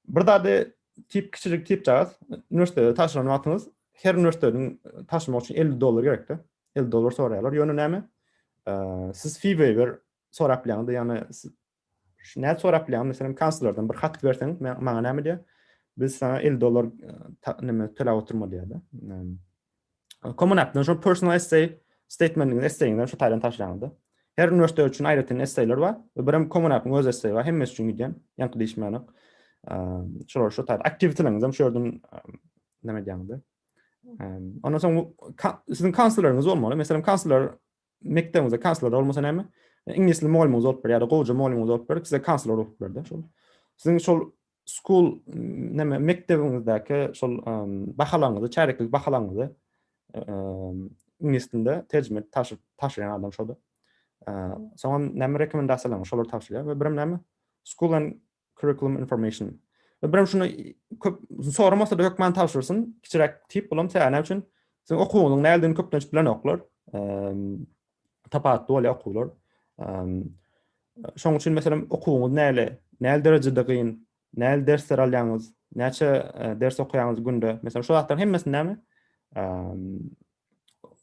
Bir zady tip kiçijik tip jagaz. Üniversitede taşyran wagtyňyz her üniversiteden taşymak üçin 50 dollar gerekdi. 50 dollar soraýarlar. Ýöne näme? Siz fee waiver sorap bilýäňiz, ýagny şu näme sorap bilýäňiz? Meselem, kanslerden bir hat berseň, maňa näme diýär? Biz sana 50 dollar näme töläp oturma diýär-de. Common App-dan şu personal essay statementinizi essaýiňizden şu taýdan taşlaňyzda. Her üniversitet üçin aýratyn essaýlar bar we birem Common App-yň öz essaýi bar, hemmesi üçin gidýän, ýaňky diýişmänem. Şolary şu taýda aktiwiteleriňizem şu ýerden näme edýäňizde. Ondan soň siziň kansleriniz bolmaly. Meselem, kansler mekdebimize kansler bolmasa näme? Iňlis dili mugallymyňyz bolup bir ýa-da gowja mugallymyňyz bolup berip size kansler bolup berdi. Şol siziň şol school näme mekdebiňizdäki şol bahalaňyzy, çäreklik bahalaňyzy iňlis dilinde terjime edip taşlaýan adam şoldy. Soňam näme rekomendasiýalaryňyz şolar tabşyrýar we birem näme school and Curriculum information. Bir hem şunu köp soramasa-da hökman tabşyrsyn. Kiçiräk tip bulam sebäbi näme üçin? Siziň okuwyňyzyň nädedigini köplenç bilenoklar. Tapawutly bolýar okuwlar. Şoň üçin meselem okuwyňyz näle, näle derejede gyn, näle dersler alýaňyz, näçe ders okaýaňyz günde. Meselem şu zatlaryň hemmesini näme?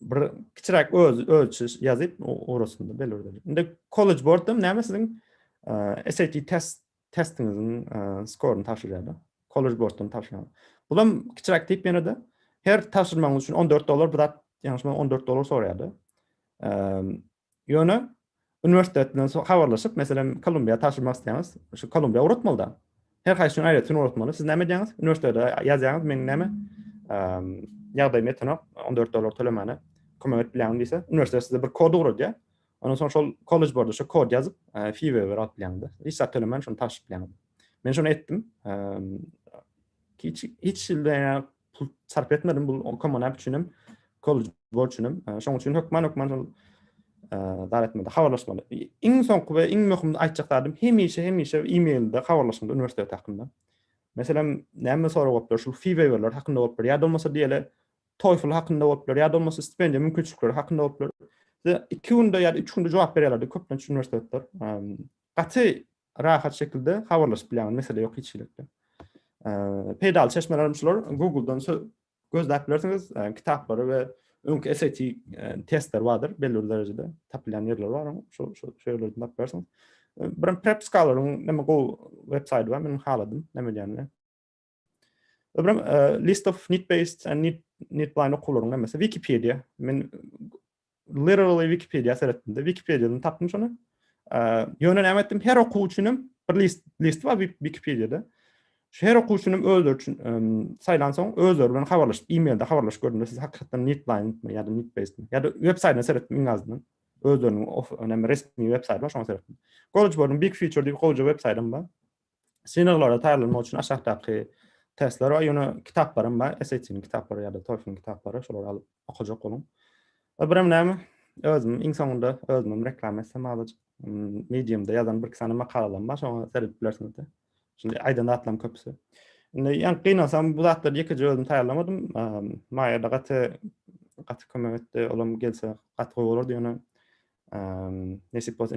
bir kiçiräk öz ölçüş ýazyp orasynda belirdi. Indi kollej bortda näme siziň e, SAT test testiňiziň e, skoryny tabşyrýarlar. Kollej bortdan tabşyrýarlar. Bulam kiçiräk tip ýene de her tabşyrmagyň üçin 14 dollar bir zat ýaňşyma 14 dollar soraýardy. E, Ýöne uniwersitet bilen habarlaşyp, meselem, Kolumbiýa tabşyrmak isleýäňiz, şu Kolumbiýa ugratmaly-da. Her haýsy üçin aýratyn ugratmaly. Siz näme edýäňiz? Uniwersitete ýazýaňyz, meň näme, ýagdaýym ýetenok, on dört dollar tölemäne kömek edip bilýäňmi diýse, uniwersitet size bir kod ugradýar. Ondan soň şol kollej barda şu kod ýazyp, fee waiver alyp bilýäňiz-de. Hiç zat tölemän şony tabşyryp bilýäňiz. Men şony etdim. Hiç, hiç pul sarp etmedim bu okama näme üçin hem kollej borç üçin hem şoň üçin hökman hökman şol dar etmeli habarlaşmaly iň soňky we iň möhüm aýtjak zadym hemişe hemişe e-mailde habarlaşmaly uniwersitet hakynda meselem näme sorag bolupdyr şul fi waiverler hakynda bolupdyr ýa bolmasa diýeli TOEFL hakynda bolupdyr ýa bolmasa stipendiýa mümkinçilikleri hakynda bolupdyr iki günde ýa üç günde jogap berýärlerdi köplenç uniwersitetler gaty Rahat şekilde habarlaşyp bilýäňiz, mesele ýok hiç hili. Peýdaly çeşmelerim şular, Google-dan gözläp bilersiňiz, kitaplary we öňki SAT testleri bardyr, belli bir derejede tapylýan ýerleri bar, şol ýerlerden tapyp bilersiňiz. Bir Prep Scholar-yň näme gowy web saýty bar, men haladym, näme edýänini. Öbürem e, list of need based and need need blind okuwlaryň hemmesi Wikipedia. Men literally Wikipedia seretdim-de, Wikipediadan tapdym şony. E, ýöne näme etdim? Her okuw üçin hem bir list list bar Wikipediada. Şu her okuw üçin hem özleri üçin e, saýlansoň özleri bilen habarlaşyp, e-mailde habarlaşyp gördüm. Siz hakykatdan need blind mi ýa-da need based mi? Ýa-da web saýtyna seretdim iň azyndan. Özleriniň of, önemli resmi web saýty bar, şoňa seretdim. College Board'un Big Future diýip gowja web saýtym bar. Synaglara taýýarlanmak üçin aşakdaky testler we ýöne kitaplaram bar. SAT-niň kitaplary ýa-da TOEFL-iň kitaplary, şolary alyp okajak boluň. E, birem näme? Özüm iň soňunda özümem reklama etsem azajyk. Medium-da ýazan birki sany makalalarym bar, şoňa seredip bilersiňiz-de. Şunda aýdan zatlaryň köpüsi. Indi ýa gynalsam bu zatlary ýekeje özüm taýýarlamadym. Maýa-da gaty gaty kömek etdi. Olam gelse gaty gowy bolardy ýöne. Nesip bolsa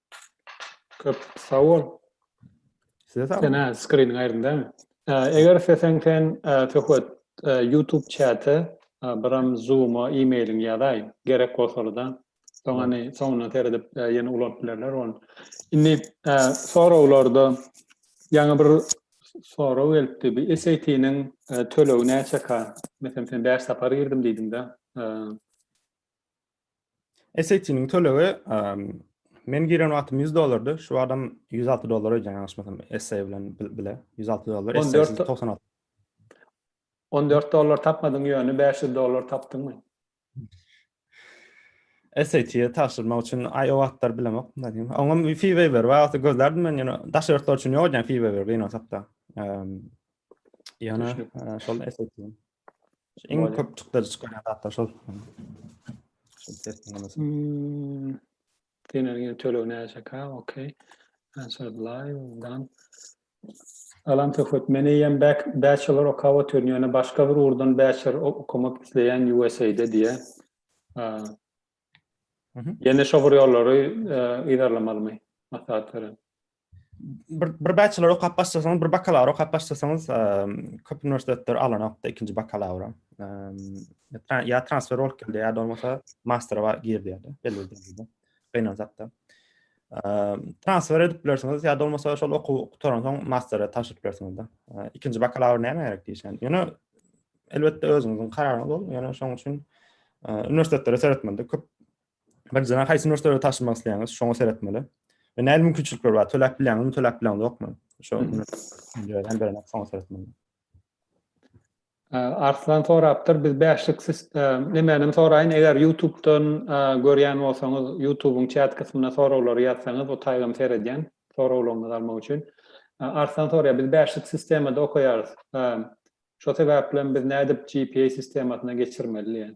Köp sag bol. Size sag Sen bolun. skrin gaýrynda. Eger isteseň sen söhbet YouTube çäte biram Zoom-a e-mailiňi ýazaý, gerek bolsalyda. Soň indi soňuna seredip ýene ulanyp bilerler ony. Indi soraglarda ýaňy bir sorag gelipdi. Bir SAT-niň tölegi näçeka? Meselem sen bäş sapar girdim diýdiň-de. SAT-niň tölegi men giren wagtym 100 dollardy, şu wagtam 106 dollar öýdýän ýalňyşmasam essay bilen bile 106 dollar, essaýsyz 96. 14 dollar tapmadyň ýöne 500 dollar tapdyňmy? SAT-ýe tabşyrmak üçin aý o wagtlar bilemok. Oňam fee waiver bar, wagty gözlärdim men ýöne daşary ýurtlar üçin ýok edýän fee waiver gynalsakda. Ýöne şol SAT. Iň köp çykdajy çykarýan zatlar şol. Hmm. Diýen ýene töleg näçeka? Okey. Answer live dan. Alam söhbet. Men eýem back bachelor okap otyryn, ýöne başga bir urdan bachelor okamak isleýän USA-da diýä. Ýene şo bir ýollary yzarlamalymy? Maslahat beren. bir bir bachelor okap başlasaňyz, bir bakalawr okap başlasaňyz, köp uniwersitetler alanokda ikinji bakalawra. Ya transfer bolup geldi, ya da olmasa mastera bar girdi ya da belli bir Gynal zatda. Transfer edip bilersiňiz, ya da olmasa şol okuw gutaran soň mastera taşyp bilersiňiz da. İkinci bakalawr näme gerek diýişen. Ýöne elbetde özüňiziň kararyňyz ol. Ýöne şoň üçin uniwersitetleri seretmeli köp Bir jana haýsy müşderide taşymak isleýäňiz, şoňa seretmeli. Ve näme mümkinçilikler bar? Töläp bilýäňizmi, töläp bilýäňiz ýokmy? Şo hem berene soňa seretmeli. Arslan sorapdyr, biz bäşlik nemänem soraýyn, eger YouTube-dan görýän bolsaňyz, YouTube-yň çat kysmyna soraglary ýazsaňyz, bu taýgam seredýän, soraglaryňyzy almak üçin. Arslan soraýar, biz bäşlik sistemada okaýarys. Şo sebäpli hem biz nädip GPA sistemasyna geçirmeli diýen.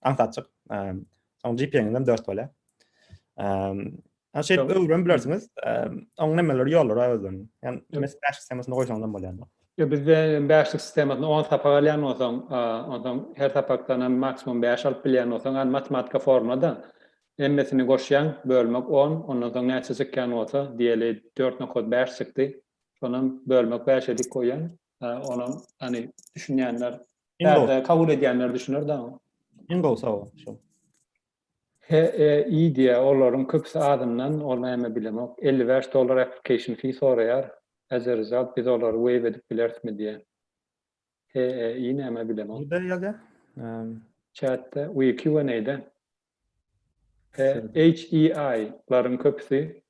Aňsatjyk. Soň GPA-ňizem 4 bolýar. Ýa şeýdip öwrüp bilersiňiz. Oň nämeleri ýollary özden. Ýani mes bäşlik sistemasyna goýsaňyz hem bolýar. Ýa bizde bäşlik sistemasyna 10 sapak alýan bolsaň, onsoň her sapakdan hem maksimum 5 alyp bilýän bolsaň, ýani matematika formulada hemmesini goşýaň, bölmek 10, ondan soň näçe çykýan bolsa, diýeli 4 nokat 5 çykdy. Şonam bölmek 5 edip goýýaň. Hä, onam, hany, düşünýänler, Iň gowy. bärde kabul edýänler düşüner daňy. Iň gowy sowal şu. HEI diýýär, olaryň köpüsi azyndan, ol näme bilemok, elli bäş dollar application fee soraýar, as a result biz olary waive edip bilerismi diýýär. HEI näme bilemok. Nirde ýazýar? Em, Chatde, we Q&A-de. He, HEI-laryň köpüsi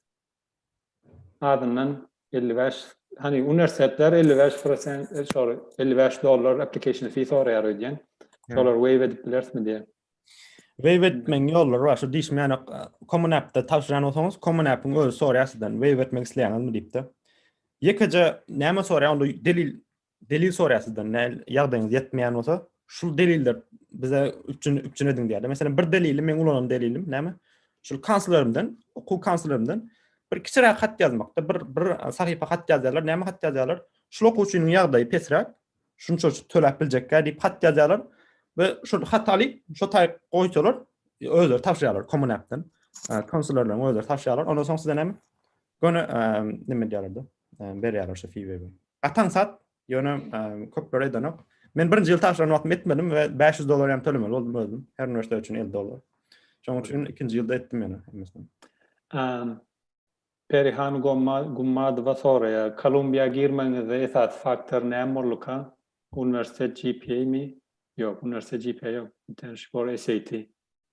azyndan elli bäş, hany uniwersitetler elli bäş prosent, e, şol elli bäş dollar application fee soraýar öýdýän. Şolar waive edip bilerismi diýýär. Waive etmegiň ýollary bar. Şu diýişim ýany Common App-de tabşyran bolsaňyz, Common App-iň özi soraýar sizden waive etmek isleýäňizmi diýip-de. Ýekeje näme soraýar onda delil Delil soraýar sizden, näl ýagdaýyňyz ýetmeýän bolsa, şul deliller bize üçin üçin ediň diýýär. Meselem, bir delili men ulanan delilim näme? Şul kanslerimden, okuw kanslerimden bir kiçiräk hat ýazmakda, bir bir sahypa hat ýazýarlar, näme hat ýazýarlar? Şul okuwçynyň ýagdaýy pesräk, şunça töläp biljekkä diýip hat ýazýarlar we şul hat alyp, şo taýyk goýsalar, özleri tapşyrýarlar kommunapdan. Konsullarlaryň özleri tapşyrýarlar. Ondan soň size näme? Göni neme diýerdi? Berýärler şu feewebe. Gatan sat, ýöne köpler edenok. Men birinji ýyl taşlan wagtym etmedim we 500 dollar ýam tölemeli boldum özüm. Her üniversitet üçin 50 dollar. Şoň üçin ikinji ýylda etdim ýöne hemmesini. Perihan Gummadowa soraýar, Kolumbiýa girmegiňizde esasy faktor näme bolduka? Uniwersitet GPA-mi? Ýok, uniwersitet GPA ýok. Internship or SAT.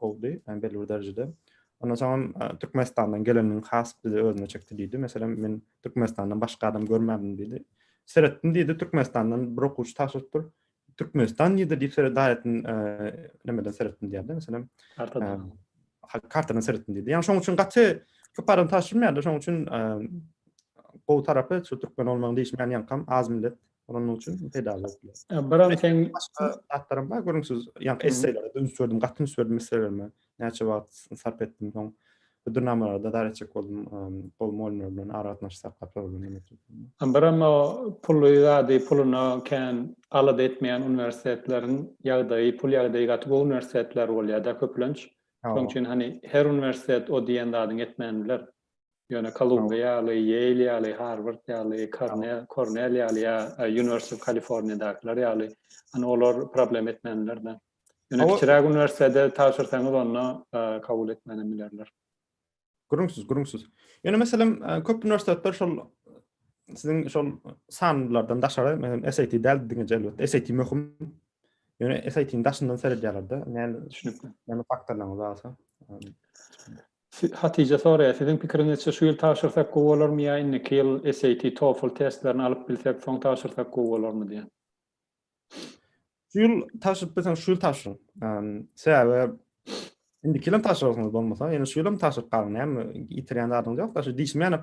boldy belli bir derejede. Ondan soňam Türkmenistandan gelenligiň has bizi özüne çekdi diýdi. Meselem, men Türkmenistandan başga adam görmändim diýdi. Seretdim diýdi, Türkmenistandan bir okuwçy tabşyrypdyr. Türkmenistan nirde diýip seret daýatyn nämeden seretdim diýdi. Meselem, kartadan. Kartadan seretdim diýdi. Ýani şoň üçin gaty köp adam tabşyrmaýardy. Şoň üçin gowy tarapy şu türkmen olmagyň diýişmän ýaňkam az millet Onuň üçin peýdaly bolup biler. Biram sen başga zatlarym bar görüň siz. Ýa esseýlere dönüp sürdim, gaty üns berdim esseýlerime. Näçe wagt sarp etdim soň. Hödürnamalary da dar etjek boldum. Gowy mugallymlar bilen ara gatnaşyk saklap soralyp bilemok. Biram o pully zady puluna kän alada etmeýän uniwersitetleriň ýagdaýy, pul ýagdaýy gaty gowy uniwersitetler bolýar-da köplenç. Şoň üçin hany her uniwersitet o diýen zadyňy etmän biler. Ýöne Kolumbiýa ýaly, Ýeýl ýaly, Harward ýaly, Kornel, Kornel ýaly ýa University of California-dakylar ýaly, hany olar problem etmänler-de. Ýöne kiçiräk uniwersitete tabşyrsaňyz onda kabul etmänem bilerler. Gürrüňsiz, gürrüňsiz. Ýöne meselem, köp uniwersitetler şol siziň şol sanlardan daşary, meselem, SAT däl diňe elbetde, SAT möhüm. Ýöne SAT-niň daşyndan seredýärler-de, näme düşünip, näme faktorlaryňyz barsa. Hatija soraýar, Siziň pikiriňizçe şu ýyl tabşyrsak gowy bolarmy ýa indiki ýyl SAT, TOEFL testlerini alyp bilsek soň tabşyrsak gowy bolarmy diýen. Şu ýyl tabşyryp bilseňiz şu ýyl tabşyryň. Sebäbi indiki ýylam tabşyrarsyňyz bolmasa, ýöne şu ýylam tabşyryp galyň näme ýitirýän zadyňyz ýok-da şu diýişmänik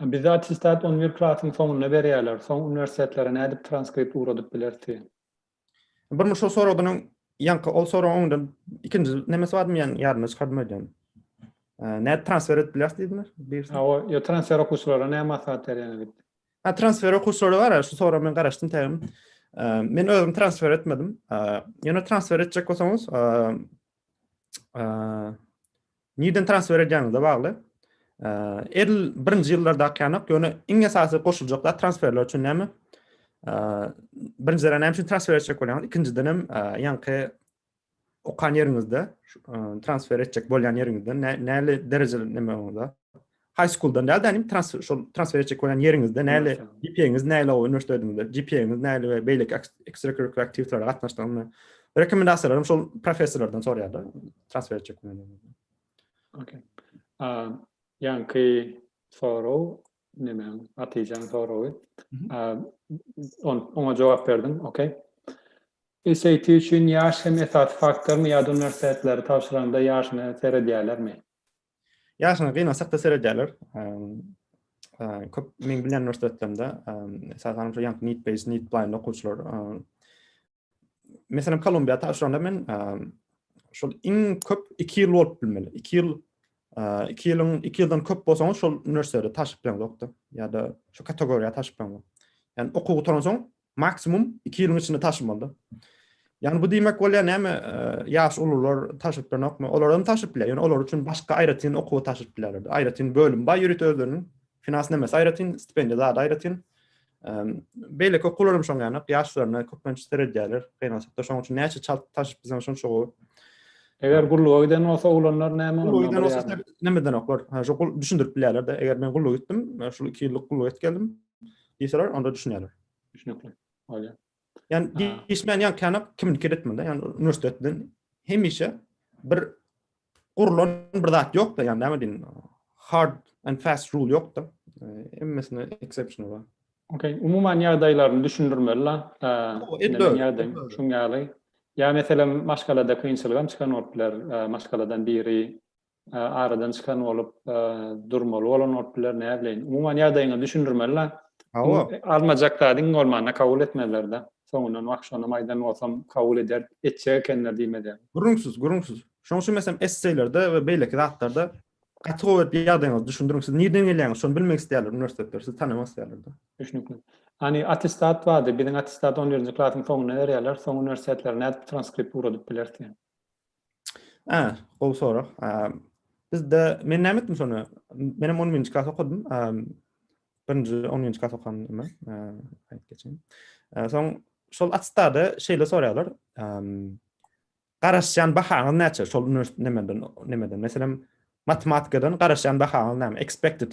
Bizde attestat on bir klasyň soňunda berýärler. Soň uniwersitetlere nädip transkript ugradyp bileris diýen. Birmiş şol soradynyň ýaňky ol soragyň öňünden ikinji nemesi barmy ýaňy ýadymdan çykardym öýdýän. Nädip transfer edip bileris diýdiňiz? Birisi. Ha, o ýa transfer okuwçylara näme maslahat berýäňiz diýip. Ha, transfer okuwçylara bar, şu soraga men garaşdym tägem. Men özüm transfer etmedim. Ýöne transfer etjek bolsaňyz, nireden transfer edýäňizde bagly. Edl birinji ýyllarda akýanok, ýöne iň esasy goşuljak zat transferler üçin näme? Birinjiden näme üçin transfer etjek bolýaňyz? Ikinjiden hem ýaňky okan ýeriňizde transfer etjek bolýan ýeriňizden näli derejeli näme onda? High schooldan däl-de inim transfer şol transfer etjek bolýan ýeriňizde näle GPA-ňiz näle o uniwersitetiňizde GPA-ňiz näle we beýleki ekstrakurikular aktiwitetlere gatnaşdygyňyz rekomendasiýalaryny şol professorlardan soraýarlar transfer etjek bolýanlardan. Okey. Ýaňky sorag näme? Atyjaň soragy. Oňa jogap berdim. Okey. SAT üçin ýaş hem esasy faktormy ýa-da uniwersitetleri tabşyranda ýaşyna seredýärlermi? Ýaşyňa gynansak-da seredýärler. Köp meň bilýän uniwersitetlerimde, esasan şu ýanky need based, need blind okuwçylar. Meselem Kolumbiýa tabşyranda men şol iň köp 2 ýyl bolup bilmeli. 2 ýyl 2 ýylyň 2 ýyldan köp bolsaňyz şol uniwersitete taşyp bileňizokdy. Ýa-da şu kategoriýa taşyp bileňiz. Ýani okuw gutaransoň Maksimum iki ýylyň içinde taşymaly. Ýani bu diýmek bolýar näme ýaş ulular taşyp bilenokmy? Olar hem taşyp biler. Ýöne olar üçin başga aýratyn okuwa taşyp bilerler. Aýratyn bölüm bar ýörite özleriniň. Finans nämäsi aýratyn, stipendiýa zady aýratyn. Beýleki okuwlar hem şoň ýany ýaşlaryna köplenç seredýärler. Gynansakda şoň üçin näçe çalt taşyp bilseň şonça gowy. Eger gulluga giden bolsa oglanlar näme bolýar? Gulluga giden bolsa nämedenoklar. Şo düşündirip bilerler-de. Eger men gulluga gitdim, şu iki ýyllyk gulluga gidip geldim. diýseler, onda düşünýärler. Düşnükli bolýar. Ýani diýişmän ýa käni kimnikidir etmeli, ýani uniwersitet bilen hemişe bir gurlan bir zat ýok-da, ýani näme diýin, hard and fast rule ýok-da. Hemmesine exception bar. Okay, umuman ýagdaýlaryny düşündirmeli la. Edil ýagdaý şuň ýaly. Ýa meselem maşgalada kynçylygam çykan bolup biler, maşgaladan biri aradan çykan bolup durmaly bolan bolup biler näbileýin umuman ýagdaýyňy düşündirmeli hawa almajak zadyň bolmanda kabul etmezler da soňundan wah şonam aýdan bolsam kabul eder etjek ekenler diýmezler gürrüňsiz gürrüňsiz şoň üçin meselem esseýlerde we beýleki zatlarda gaty gowy edip ýagdaýyňyzy düşündiriň siz nirden gelýäňiz şony bilmek isleýärler uniwersitetler sizi tanamak isleýärler da düşnükli Hani attestat bardy, biziň attestat 11-nji klasyň soňunda berýärler, soň uniwersitetler nädip transkript ugradyp bilersiň? A, gowy sorag. Bizde men näme etdim şony? Men hem 10 birinji klas okadym. Birinji 10 birinji klas okandym. Aýt geçen. Soň şol atstada şeýle soraýarlar. Garaşýan bahaňyz näçe? Şol üniversitet nemeden, nemeden? Meselem, matematikadan garaşýan bahaňyz näme? Expected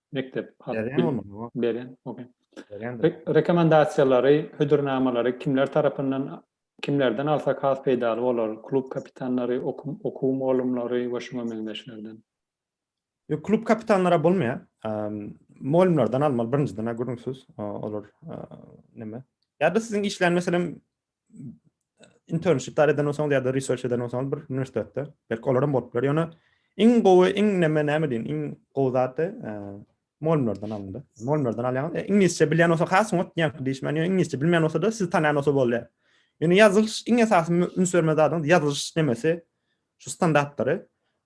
Mekdep beren rekomendasiýalary, hödürnamalary kimler tarapyndan, kimlerden alsak has peýdaly bolar? Klub kapitanlary, okuw mugallymlary we şuňa meňzeşlerden. Ýok, klub kapitanlara bolmaýar. Mugallymlardan almaly birinjiden-ä gürrüňsiz. Olar näme? Ýa-da siziň işlän meselem internship eden bolsaňyz ýa-da research eden bolsaňyz bir uniwersitetde, belki olar hem bolup biler. Ýöne iň gowy, iň näme näme diýin, iň gowy zat mollerden alyndy. Mollerden alýan, e, iňlisçe bilýän bolsa has soňat diýen diýiş meni iňlisçe bilmeýän bolsa da siz tanýan bolsa bolýar. Ýöne ýazylyş iň esasy üns berme zadyň ýazylyş nemesi Şu standartlary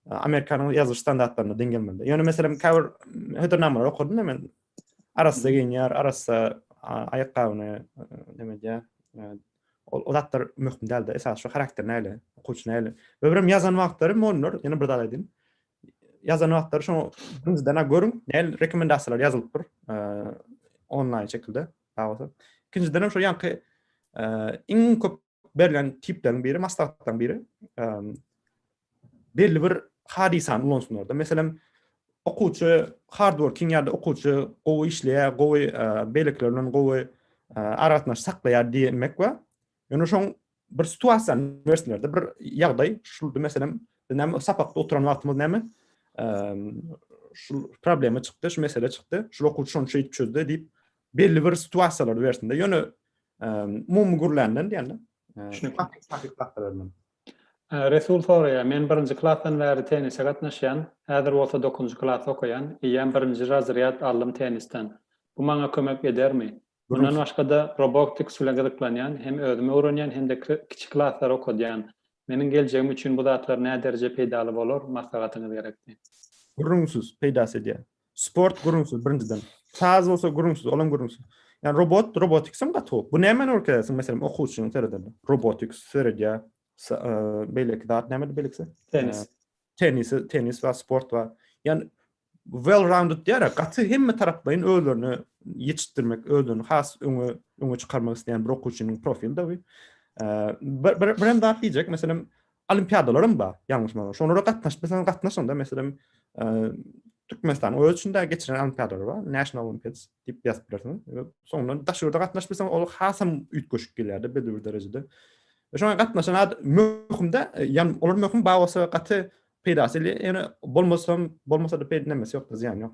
Amerikanyň ýazylyş standartlaryna deň gelmeli. Ýöne meselem käbir hödürnamalary okadym men. Arassa geýinýär, arassa aýakgabyny näme diýýär? Ol zatlar möhüm däldi. Esas şu harakter näle, okuwçy näle. We birem ýazan wagtlary mugallimler, ýene bir zat aýdayyn. Ýazan wagtlary şoňa birinjiden görüň, näle rekomendasiýalar ýazylypdyr onlaýn şekilde. Ikinjiden hem şu ýaňky iň köp Berlen tipleriň biri, maslahatlaryň biri, belli bir hadysany ulansynlar-da. Meselem, okuwçy hard working ýa-da okuwçy gowy işleýär, gowy beýlekiler bilen gowy aragatnaşyk saklaýar diýmek we ýöne şoň bir situasiýany bersinler-de, bir ýagdaý, şul meselem, biz näme sapakda oturan wagtymyz näme? Şul problema çykdy, şu mesele çykdy, şul okuwçy şony şeýdip çözdi diýip, belli bir situasiýalary bersinde ýöne umumy gürländen diýende düşünikli Resul soraýar, men birinji klasdan bäri tennise gatnaşýan, häzir bolsa dokuzynjy klas okaýan, eýýäm birinji razrýad aldym tennisden. Bu maňa kömek edermi? Mundan başga-da Roboktiks bilen gyzyklanýan, hem özüm öwrenýän, hem-de kiçi klaslara okadýan. Meniň geljegim üçin bu zatlar nädereje peýdaly bolar, maslahatyňyz gerekdi. Gürrüňsiz peýdasy edýär. Sport gurunsyz birinjiden. Saz bolsa gurunsyz, olam gurunsyz. Yani robot, robotics hem gaty bu. Bu näme öwredersin meselem okuwçyny sereden. Robotics seredýär. E, beýleki zat näme beýlekisi? Tennis. E, tennis, tennis we sport we yani well rounded diýär, gaty hemme taraplaýyn özlerini ýetişdirmek, özlerini has öňe öňe çykarmak isleýän bir okuwçynyň profili de bu. E, bir bir hem zat diýjek, meselem Olimpiadalaram bar, ýalňyşmasaň. Şolara gatnaşyp bilseň, gatnaşyň-da. Meselem, Türkmenistanyň özi içinde geçirilen olimpiadalar bar, National Olympiads diýip ýazyp bilersiň. Soňundan daşary ýurda gatnaşyp bilseň, ol hasam üýtgeşik gelýär-de belli bir derejede. Şoňa gatnaşan adam möhüm-de, ýa olar möhüm, bar bolsa gaty peýdasy, ýöne bolmasam, bolmasa-da peýda näme ýok, zyýany ýok.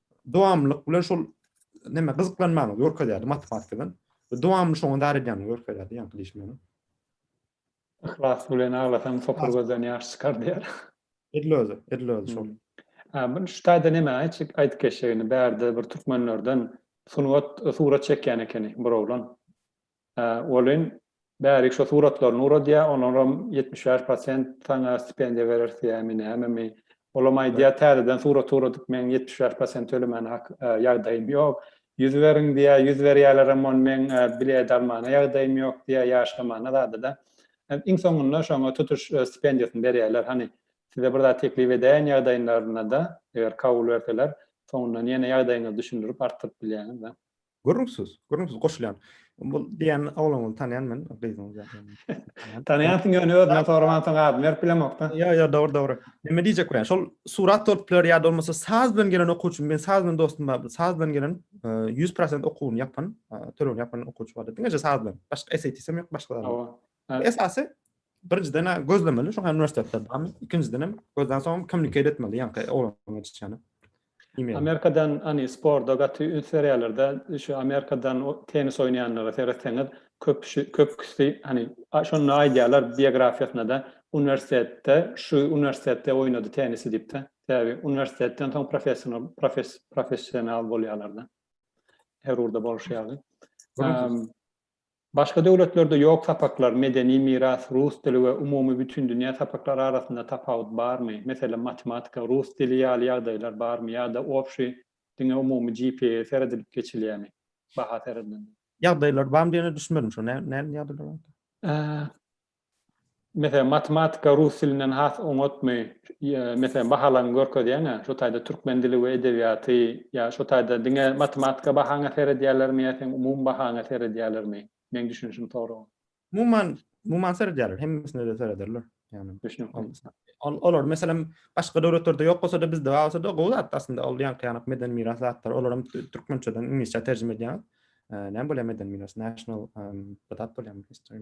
dowamlylyk bilen şol näme gyzyklanmagyny görkezýärdi matematika bilen. Dowamly şoňa dar edýänini görkezýärdi ýaňky diýişim bilen. Yhlas bilen aglasaň sopar gözden ýaş çykar diýär. Edil özi, edil özi şol. Hmm. Muny şu taýda näme aýtjak aýdyp geçjegini bärde bir türkmenlerden sungat surat çekýän ekeni bir oglan. Welin, bärik şo suratlaryny uradýar, olaram ýetmiş bäş prosent saňa stipendiýa bereris diýýärmi, nämemi? Olam aýdýar, täzeden surat uradyp, meň ýetmiş bäş prosent tölemäne hak, ýagdaýym ýok. Ýüz beriň diýýär, ýüz berýärlerem, ony meň bilet almana ýagdaýym ýok diýýär, ýaşlamana zady-da. Iň soňunda şoňa tutuş stipendiýasyny berýärler. Hany, size bir zat teklip edäýen ýagdaýynlarynda, eger kabul berseler, soňundan ýene ýagdaýyňyzy düşündirip, artdyryp bilýäňiz-de. Gürrüňsiz, gürrüňsiz goşulýan. Bu diýen ogluňyzy tanýan men, gyzyňyz ýaly. Tanýansyň ýöne özünden soramansyň adyny berip bilemokda. Ýa ýa dogry dogry. Näme diýjek bilen şol surat alyp biler ýa-da bolmasa saz bilen gelen okuwçy men saz bilen dostum bar saz bilen gelen 100% okuwyny ýapan tölegini ýapan okuwçy bar diňeje saz bilen başga SATsem ýok başga. Ýa esasy birinjiden-ä gözlemeli şoňa uniwersitetde barmy? Ikinjidenem gözden soň kommunikate etmeli ýaňky oglan geçişýäni. Amerikadan hani sporda gaty üns berýärlerde şu Amerikadan tennis oýnaýanlara seretseňiz köpüsi köpüsi hani şonda aýdýarlar biografiýasynada uniwersitetde şu uniwersitetde oýnady tennisi diýipde. Sebäbi uniwersitetden soň professional profes professional bolýarlarda. Her ugurda bolşy ýaly. Başga döwletlerde ýok sapaklar, medeni miras, rus dili we umumy bütindünýä sapaklary arasynda tapawut barmy, meselem matematika, rus dili ýaly ýagdaýlar barmy ýa-da obşi diňe umumy GPA seredilip geçilýämi, baha seredilende? Ýagdaýlar barmy diýene düşünmedim şo näme ýagdaýlar barka. Meselem, matematika rus dilinden has oňatmy? Meselem, bahalaryňy görkezýäň-ä, şo taýda türkmen dili we edebiýaty ýa şo taýda diňe matematika bahaňa seredýärlermi ýa seň umumy bahaňa seredýärlermi? Meň düşünişim soragyň. Umuman, umuman seredýärler, hemmesine-de serederler. Ýagny, ol, olar, meselem, başga döwletlerde ýok bolsa-da, bizde bar bolsa-da, gowy zat-da aslynda, ol ýaňky ýanak medeni miras zatlary, olar hem türkmençeden iňlisçä terjime edýäňiz. Näme bolýar medeni miras, national, bu zat bolýarmy, history,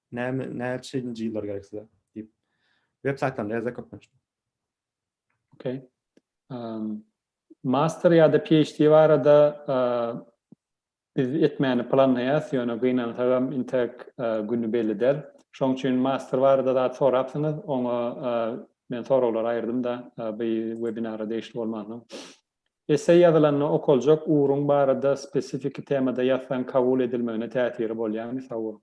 Näme, näçenji ýyllar gerek size? diýip, web saýtlarynda ýazýar köplenç. Okey. Master ýa-da PHD barada biz etmäni planlaýarys, ýöne gynansagam intäk güni belli däl. Şoň üçin master barada zat sorapsyňyz, oňa men soraglary aýyrdym-da bu webinara degişli bolmansoň. Esseý ýazylanda okaljak ugruň barada spesifiki temada ýazsaň kabul edilmegine täsiri bolýarmy? Sag boluň.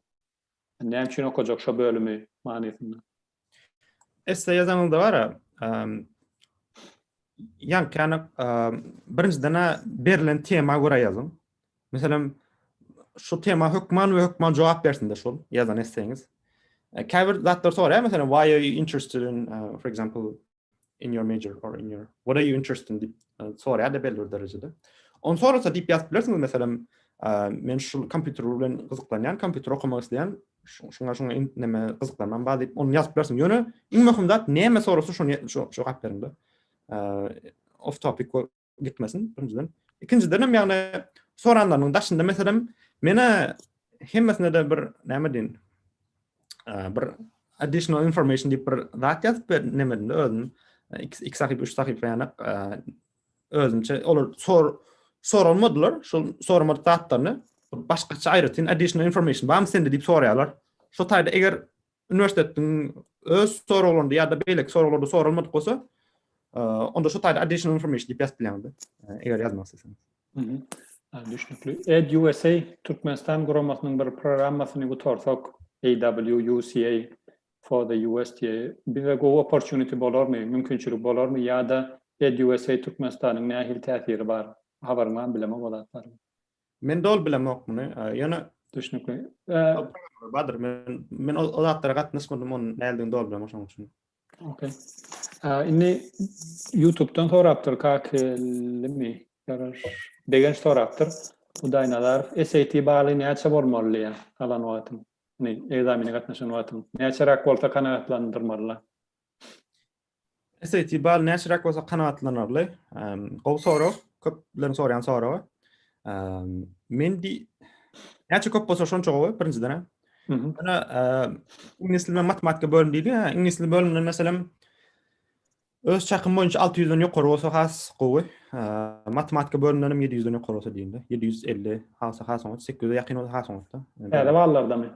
Näme üçin okajak şo bölümi manysynda. Esse ýazanyňda bara, ýaňkyny birinjiden berlen tema görä ýazyň. Meselem, şu tema hökman we hökman jogap bersinde şol ýazan esseňiz. Käbir zatlar soraýar, meselem, why are you interested in, for example, in your major or in your what are you interested in dip sorýar da belli bir derejede. On sorasa dip ýazyp bilersiňiz meselem men şu kompýuter bilen gyzyklanýan, kompýuter okamak isleýän, şuňa şuňa neme gyzyklanmam bar diýip ony ýazyp bilersiň. Ýöne iň möhüm zat näme sorasa şony jogap beriň da. Off topic gitmesin birinjiden. Ikinjiden hem ýagny soranlarynyň daşynda meselem mena hemmesine de bir näme diýin? Bir additional information diýip bir zat ýazyp ber nemedinde özüm iki, iki sahyp, üç sahyp ýanak özümçe olar sor sorulmadylar şu soramadyk zatlaryny başgaça aýratyn additional information bam sende diýip soraýarlar. Şu taýda eger Uniwersitetiň öz soraglarynda ýa-da beýleki soraglarda soralmadyk bolsa, onda şu taýda additional information diýip ýazyp bilýäňiz-de, eger ýazmak isleseňiz. Düşnükli. EdUSA Türkmenistan guramasynyň bir programmasyny gutarsak, AWUSA for the US diýe, bize gowy opportunity bolarmy, mümkinçilik bolarmy ýa-da EdUSA Türkmenistanyň nähili täsiri bar? Habaryň barmy, bilemok o zatlary? Men doly bilemok muny. Ýöne düşnükli. Badyr men men o zatlara gatnaşmadym, onuň näldigi doly bilemok şonuň üçin. Okey. Indi YouTube-dan sorapdyr Kakelimi, garaş. Begenç sorapdyr. Hudaý nazar, SAT baly näçe bolmaly diýýär alan wagtyň? Ýani ekzamene gatnaşan wagtyň näçeräk bolsa kanagatlandyrmaly? SAT bal näçeräk bolsa kanagatlanarly? Gowy sorag, köpleriň soraýan soragy. Men di näçe köp bolsa şonça gowy birinjiden. Ana iňlis dilinde matematika bölüm diýilýär. Iňlis dili bölüminde meselem öz çakym boýunça 600-den ýokary bolsa has gowy. Matematika bölüminde hem 700-den ýokary bolsa diýilýär. 750 has has 800-e ýakyn bolsa has oňat. Täze ballardamy?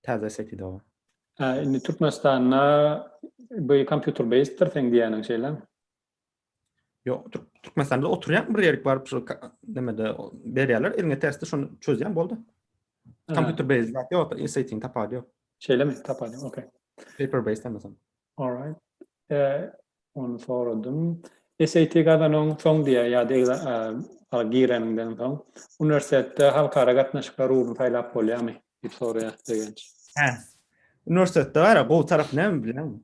Täze sekido. Hä indi Türkmenistanda by kompýuter beýsdir seň diýýäniň şeýlemi? Ýok, Türkmenistanda oturýan bir ýerik baryp şu nämede berýärler, eliňe testi şony çözýän boldy. Kompýuter beýsdir ýok, insiýtiň tapady ýok. Şeýlemi? Tapady, okey. Paper beýsdir näme sen? Alright. Eee ony soradym. SAT gazananyň soň diýä ýa-da exa gireniňden soň uniwersitetde halkara gatnaşyklar ugruny saýlap bolýarmy diýip soraýar Begenç. Hä. Uniwersitetde gara gowy tarapy näme bilýäňmi?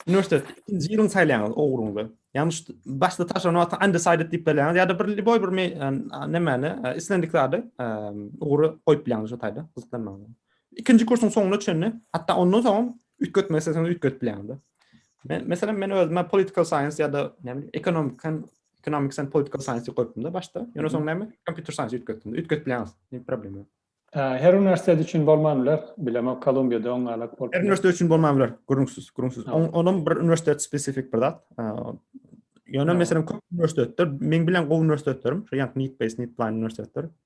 Uniwersitetde ikinji ýylyňy saýlaýaňyz ugruňyzy. Ýagny şu başda tabşyran wagty undecided diýip belläňiz ýa-da bir liboý bir me-, nämäni, islendik zady, ugry goýup bilýäňiz şu taýda gyzyklanmagyňyza. Ikinji kursuň soňuna çenli, hatda ondan soňam üýtgetmek isleseňiz üýtgedip bilersiňiz. Men meselem men özüme political science ya da ne bileyim economic and economics and political science goýupdym da başda. Ýöne soň näme? Computer science üýtgetdim. Üýtgetip bilersiňiz. Ne problem ýok. Her üniversitet üçin bolman biler. Bilemok Kolumbiýada oň alak bolup. Her üniversitet üçin bolman biler. Gürrüňsiz, gürrüňsiz. Onuň bir üniversitet spesifik bir zat. Ýöne meselem köp üniversitetler, meň bilen gowy üniversitetlerim, şu ýa-da Nitbase, Nitplan üniversitetleri,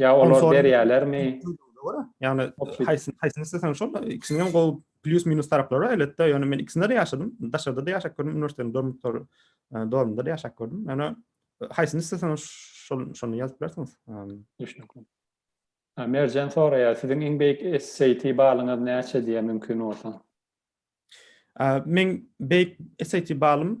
Ýa olar berýärlermi? Ýagny haýsyny haýsyny isleseň şol ikisiniň hem gowy plyus minus taraplary elbetde ýöne men ikisinde de ýaşadym daşarda da ýaşap gördüm uniwersitetiň dormitory e, dormunda da ýaşap gördüm ýöne e, haýsyny isleseň şol şony ýazyp bilersiňiz düşünikli Merjen soraýar siziň iň beýik SAT balyňyz näçe diýe mümkin bolsa Men beýik SAT balym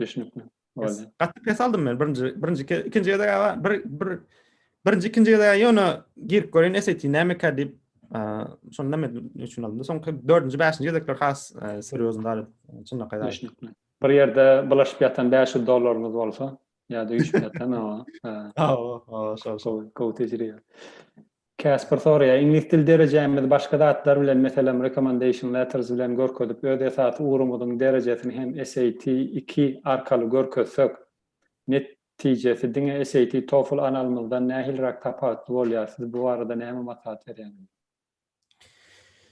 Düşnükli. Boldy. Gaty pes aldym men birinji birinji ke- ikinji gezek aga bir bir birinji ikinji gezek ýöne girip göreýin SAT nämeka diýip eee, şony näme üçin aldym. Soňky dördünji, bäşinji gezekler has eee, serýozny galyp çynlakaý galyp. Düşnükli. Bir ýerde bulaşyp ýatan 500 dollaryňyz bolsa, ýa-da üýşüp ýatan o, e, Aw, aw, şol şol. gowy, gowy tejribe. Casper soraýar, Iňlis dil derejämizi başga zatlar bilen, meselem, recommendation letters bilen görkezip, öz esasy ugrumyzyň derejesini hem SAT iki arkaly görkezsek, netijesi diňe SAT, TOEFL analymyzdan nähiliräk tapawutly bolýar? Siz bu barada näme maslahat berýäňiz?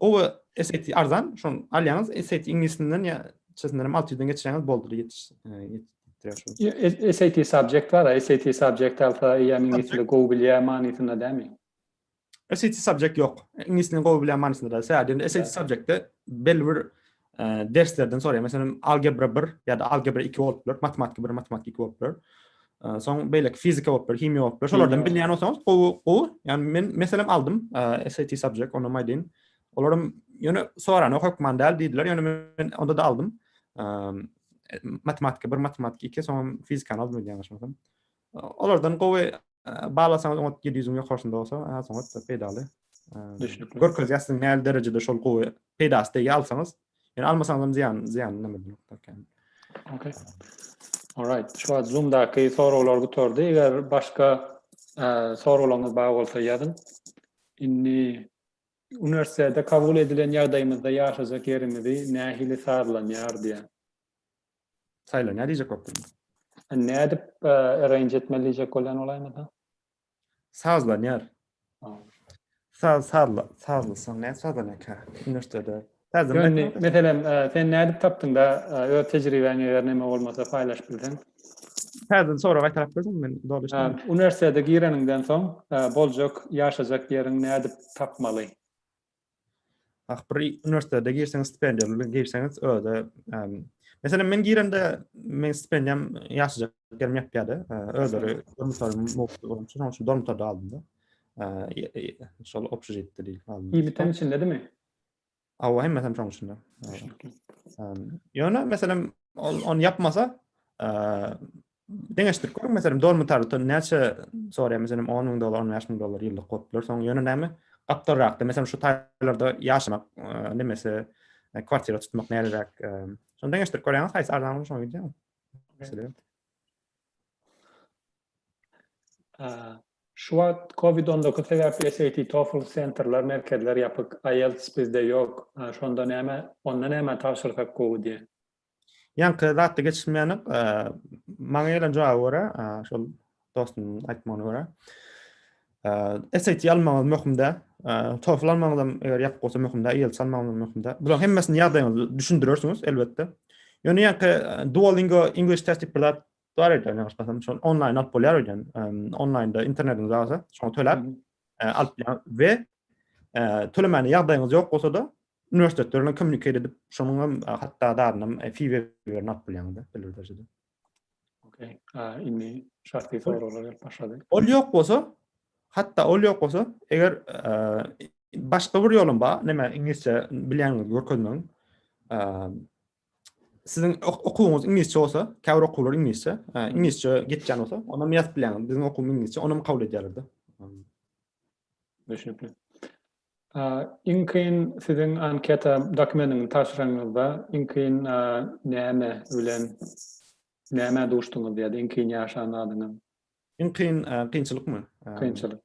Gowy SAT arzan, şon alýaňyz, SAT iňlisinden ýa çesinden hem 600 den geçirýäňiz boldy ýetiş. E, SAT subject bar, SAT subject alsa ýa iňlisini gowy bilýär manysynda dämi? SAT subject ýok. Iňlisini gowy bilýär manysynda däl. Sadece SAT subjectde belli bir derslerden soraýar. Meselem, algebra 1 ýa-da algebra 2 bolup biler, matematika 1, matematika 2 bolup biler. Soň beýleki fizika bolup biler, himiýa bolup biler. Şolardan bilýän bolsaňyz, gowy, gowy. Ýani men meselem aldym, SAT subject, onam aýdyn. Olaram ýöne sorana hökman däl diýdiler, ýöne men onda da aldym. Matematika 1, matematika 2, soňam fizikany aldym öýdýän başymdan. Olardan gowy baglasaňyz oňat ýedi ýüzüň ýokarsynda bolsa, has oňat peýdaly. Düşnükli. Görkezýär siziň nähili derejede şol gowy peýdasy degýär alsaňyz. Ýöne almasaňyz hem zyýan, zyýany nämedir ýokdur. Okay. Alright. Şu wagt Zoom-daky soraglar gutardy. Eger başga soraglaryňyz bar bolsa ýazyň. Indi uniwersitete kabul edilen ýagdaýymyzda ýaşajak ýerimizi nähili sazlanýar diýen Saýla, nä diýjek bolup durmuň? Nädip arrange etmeli diýjek bolýan bolaýmasa? Sazlanýar. Saz, sazla, sazlasaň nädip sazlanýarka? Üniwersitede. Ýöne, meselem, sen nädip tapdyň-da, öz tejribäňi eger näme bolmasa paýlaşyp bilseň? Täzeden sorag gaýtalap bilseň, men doly düşünmedim. Üniwersitede gireniňden soň boljak, ýaşajak ýeriňi nädip tapmaly? Ah, bir uniwersitete girseňiz, stipendiýa bilen girseňiz, öde, meselem, men girende, men stipendiýam ýaşaja ýerim ýetýärdi. Özleri dormitor mowzugy boýunça, şonuň üçin dormitorda aldym-da. Şol obşežitde diýip aldym. Ýigitleň içindedimi? Hawa, hemmesem şoň içinde. Ýöne, meselem, ol ony ýapmasa, Deňeşdirip görüň, meselem, Don Mutarutdan näçe soraýar, meselem, 10 müň dollar, 15 müň dollar ýyllyk bolup biler, soň ýöne näme, gapdalrakda, meselem, şu taýlarda ýaşamak, nemesi, kwartira tutmak näleräk, şony deňeşdirip görýäňiz, haýsy arzan bolar, şoňa gidýäňiz. Meselem. Şu wagt COVID-19 sebäpli SAT, TOEFL sentrler, merkezler ýapyk, IELTS bizde ýok. Şonda näme, onda näme tabşyrsak gowy diýýän. Ýaňky zatda geçilmeýänik. Maňa gelen jogaba görä, şol dostumyň aýtmagyna görä, SAT almagyňyz möhüm däl. TOEFL almagyňyz hem eger ýapyk bolsa möhüm däl, IELTS almagyňyz hem möhüm däl. Bularyň hemmesini ýagdaýyňyzda düşündirersiňiz, elbetde. Ýöne ýaňky Duolingo English Test diýip bir zat Dowam edýän ýaňyş basam, şol onlaýn alyp bolýar öýden. Onlaýnda internetiňiz barsa, şoňa töläp alyp bolýar we tölemäne ýagdaýyňyz ýok bolsa da, uniwersitetler bilen kommunikasiýa edip, şonuň hem hatda dadyna hem fi berip alyp bolýaňyz belli bir derejede. Okey. Indi şahsy soraglar gelip başlady. Ol ýok bolsa, hatda ol ýok bolsa, eger başga bir ýolum bar, näme iňlisçe bilýäniňizi görkezmegiň. siziň okuwyňyz iňlisçe bolsa, käbir okuwlar iňlisçe, iňlisçe geçýän bolsa, onda men ýazyp bilýän, biziň okuwymyz iňlisçe, ony kabul edýärler-de. Düşünipli. Iň kyn siziň anketa dokumentini tabşyranyňyzda iň kyn näme bilen näme duşduňyz ýa-da iň kyn ýaşan zadyňyz? Iň kyn kynçylykmy? Kynçylyk.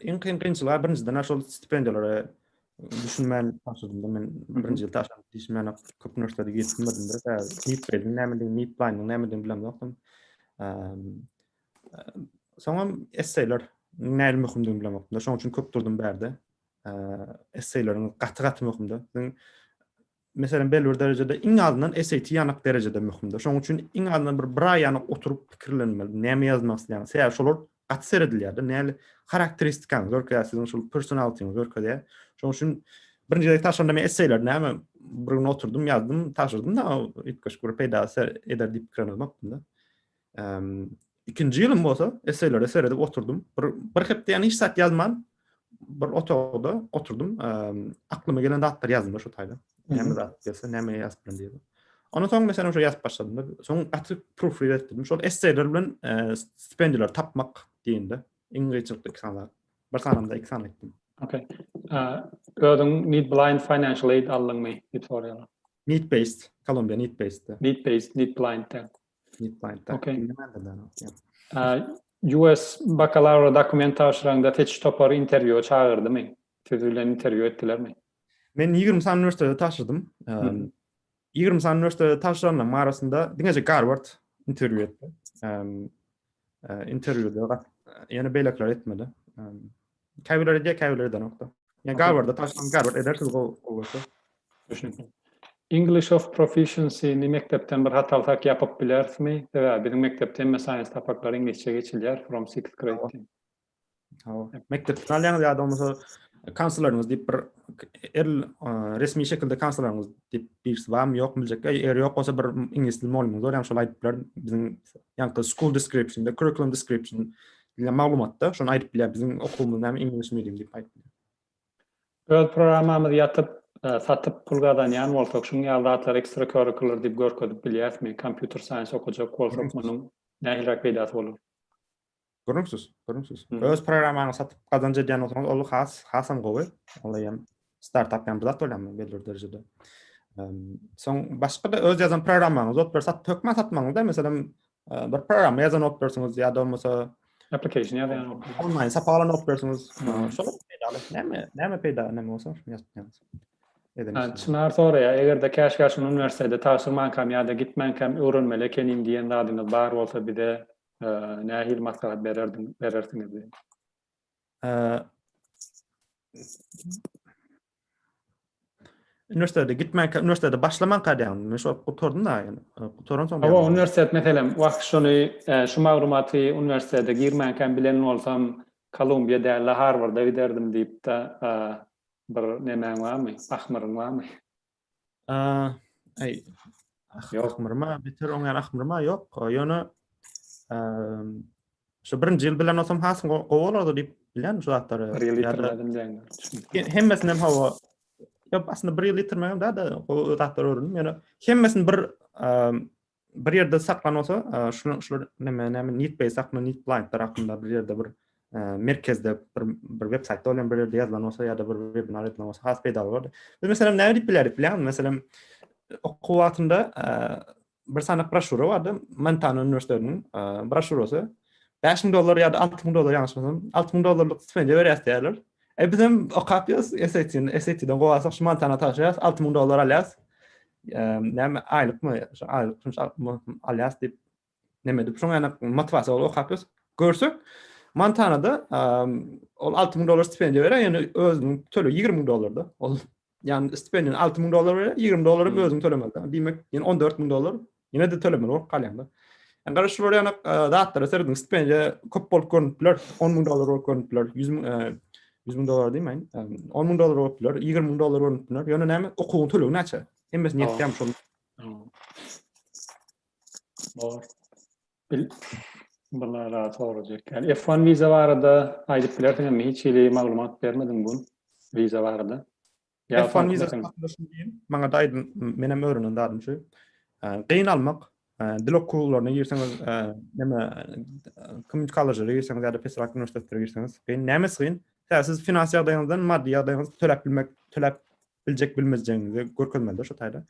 Iň kyn kynçylygy birinjiden şol stipendiýalara düşünmän başladymda men birinji ýyl taşlap işmän köp nurslary geçmedim de tä nip bedim näme diýip nip plan näme diýip bilemde ýokdum. Soňam esseýler näme möhümdigini bilemde ýokdum. Şonuň üçin köp durdum bärde. Esseýleriň gaty-gaty möhümdi. Sen meselem, belli bir derejede, iň azyndan SAT ýanak derejede möhümdir. Şonuň üçin iň azyndan bir bir aý ýanak oturyp pikirlenmeli, näme ýazmak isleýäňiz. Sebäbi şolar gaty seredilýär-de, näli harakteristikaňyzy görkezýär, siziň şol personalitiňizi görkezýär. Şonuň üçin birinji gezek tabşyranda men esseýleri näme bir gün oturdym, ýazdym, tabşyrdym-da, üýtgeşik bir peýda eder diýip pikir edip oturdym-da. Ikinji ýylym bolsa, eseýlere seredip oturdym. Bir, bir hepde hiç zat ýazman, bir otagda oturdym. Aklyma gelen zatlar ýazdym şu taýda. Näme zat gelse, näme ýazyp bilen diýip. Ondan soň meselem şu ýazyp başladym. Soň gaty proofread etdim. Şol esseýler bilen stipendiýalar tapmak diýende, iň gyýçylykly iki sanalar. Bir sanamda iki sany etdim. Okay. Özüň need blind financial aid aldyňmy? Need based, Kolumbiýa need based. Need based, need blind. US bakalawra dokument tabşyraňda seçiş topary interwýua çagyrdymy? Siz bilen interwýu etdilermi? Men ýigrimi sany uniwersitetde tabşyrdym. Ýigrimi sany uniwersitetde tabşyranlaryň arasynda diňeje Garward interwýu etdi. Interwýuda ýene beýlekiler etmedi. Käbirleri diýýär, käbirleri edenokda. Ýa Garwarda taşlan, Garward edersiz gowy bolsa. Düşünikli. English of Proficiency ni mekdepden bir hat alsak ýapyp bilerismi? Sebäbi biziň mekdepde hemme science sapaklary iňlisçe geçilýär from sixth grade diýip. Hawa. Mekdepden alýaňyz ýa-da bolmasa kansleriňiz diýip bir el resmi şekilde kansleriňiz diýip birisi barmy ýokmy biljek. Eger ýok bolsa bir iňlis dili mugallymyňyz bar, ýa-da şol aýdyp biler. Biziň ýaňky school description, curriculum description Diýen maglumatda şony aýdyp bilýär. Biziň okuwymyz näme English medium diýip aýdyp bilýär. Öz programmamyzy ýatyp, satyp pul gazanýan bolsak, şuň ýaly zatlary extracurricular diýip görkezip bilýärismi? Computer science okajak bolsak, munuň nähiliräk peýdasy bolar? Gürrüňsiz, gürrüňsiz. Öz programmaňyzy satyp gazanç edýän bolsaňyz, ol has, hasam gowy. Olar hem Startup ýaly bir zat bolýarmy belli derejede. Soň başga da öz ýazan programmaňyzy alyp bersat hökman satmaňyzda, meselem bir programma ýazan alyp bersiňiz ýa-da bolmasa application ýazan alyp bersiňiz. Online sapak alan alyp bersiňiz. Şol peýdaly. Näme, näme peýda, näme bolsa şuny ýazyp ýazyň. Edeňiz. Çynar soraýar, eger-de käş käş uniwersitete tabşyrmankam ýa-da gitmänkam öwrenmeli ekeniň diýen zadyňyz bar bolsa bize nähili maslahat bererdiň, berersiňiz? Üniversitede gitmek, üniversitede başlamak kadýan. Men şol gutardym da, yani. Gutaran soň. Hawa, üniversitet meselem, wah şony, şu maglumaty üniversitede girmänkäm bilen bolsam, Kolumbiýa däl-de Harwarda giderdim diýip-de bir nemäň barmy, ahmyryň barmy? Aý, ýokmyrma, biter oňa ahmyrma, ýok. Ýöne şu birinji ýyl bilen olsam hasyn gowy bolardy diýip bilen şu zatlary. Bir ýyl ýitirmedim diýen. Hemmesini hem hawa. Ýok, aslynda bir ýyl ýitirmegem däl-de, gowy zatlar öwrendim. Ýöne hemmesini bir bir ýerde saklan bolsa, şular şular näme näme need base hakynda, need blind hakynda bir ýerde bir merkezde bir bir web saýtda bolan bir ýerde ýazylan bolsa ýa-da bir webinar edilen bolsa has peýdaly bolardy. Biz meselem näme diýip bilerik bilýäňmi? Meselem okuw wagtynda bir sanak broşura bardy, Montana uniwersitetiniň broşurasy. 5000 dollar ýa-da 6000 dollar ýalňyşmasam, 6000 dollarlyk stipendiýa berýär diýýärler. E bizem okap ýörüs SAT-ni, SAT-den gowy alsak şu Montana tabşyrýas, alty müň dollar alýas. Näme aýlykmy, şu aýlyk şunça alýas diýip näme edip şoň ýaly motivasiýa bolup okap ýörüs. Görsek Montanada ol alty müň dollar stipendiýa berýär, ýöne özüniň tölegi ýigrimi müň dollarda. Ol Yani stipendiýa 6 müň dollar berýär, 20 dollaryň hmm. özüň tölemeli. Diýmek, ýene 14 müň dollar ýene de tölemeli bolup galýanda. Yani garaş şu bolýan zatlara serediň, stipendiýa köp bolup görünip biler, 10 müň dollar bolup görünip biler, 100 müň 100 müň dollar diýmeýin, 10 müň dollar bolup biler, 20 müň dollar bolup biler. Ýöne näme, okuwyň tölegi näçe? Hemmesi netkäm şol. Bor. Bil Bulara sorajak. Yani F1 viza barada aýdyp bilersiň mi hiç hili maglumat bermediň bu viza barada. Ya F1 viza barada şunu diýin. Maňa da aýdyn, men hem öwrenen zadym şu. Gyn almak, dil okuwlaryna girseňiz, näme community college-lere girseňiz ýa-da pesrak uniwersitetlere girseňiz, gyn. Nämesi gyn? Sebäbi siz finans ýagdaýyňyzdan, maddy ýagdaýyňyzdan töläp bilmek, töläp biljek bilmezjegiňizi görkezmeli-de şo taýda.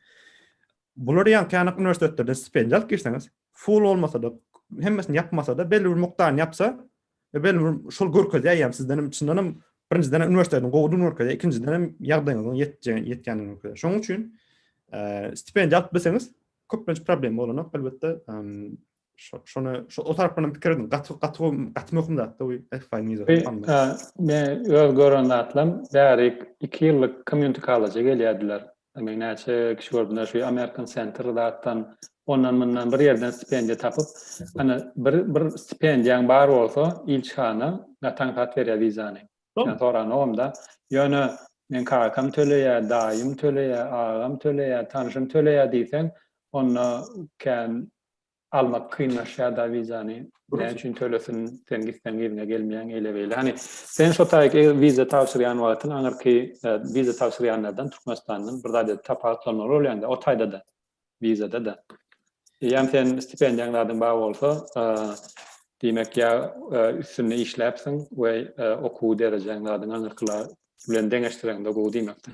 Bular ýaňky ýanak uniwersitetlerden stipendiýa alyp girseňiz, full bolmasa-da, hemmesini ýapmasa-da, belli bir mukdaryny ýapsa, belli bir şol görkezýär ýa sizden hem çyndan hem birinjiden hem uniwersitetiň gowudygyny görkezýär, ikinjiden hem ýagdaýyňyzyň ýetjegini, ýetýändigini görkezýär. Şonuň üçin stipendiýa alyp bilseňiz, köplenç problem bolanok. Elbetde, Şona şu o tarapdan pikir edin. Gaty gaty gaty möhüm zat da bu FI nizo. Men öz gören zatlam bärik 2 ýyllyk community college gelýärdiler. Men näçe kişi gördüm şu American Center zatdan ondan mundan bir ýerden stipendiýa tapyp, ana bir bir stipendiýaň bar bolsa ilçihana natan hat berýär wizany. Men soranogam-da. Ýöne men kakam töleýär, daýym töleýär, agam töleýär, tanşym töleýär diýseň, onda kän almak kynlaşýar da wizany näme üçin tölesin sen gitseň yzyňa gelmeýäň eýle beýle hani sen şo taýyk eger wiza tabşyrýan wagtyň aňyrky e, wiza tabşyrýanlardan türkmenistandan bir zat edip tapawutlanmaly bolýanda o taýda da wizada da eýýäm sen stipendiýaň zadyň bar bolsa e, diýmek ýa e, üstünde işläpsiň we okuw derejäň zadyň aňyrkylar bilen deňeşdireňde gowy diýmekdir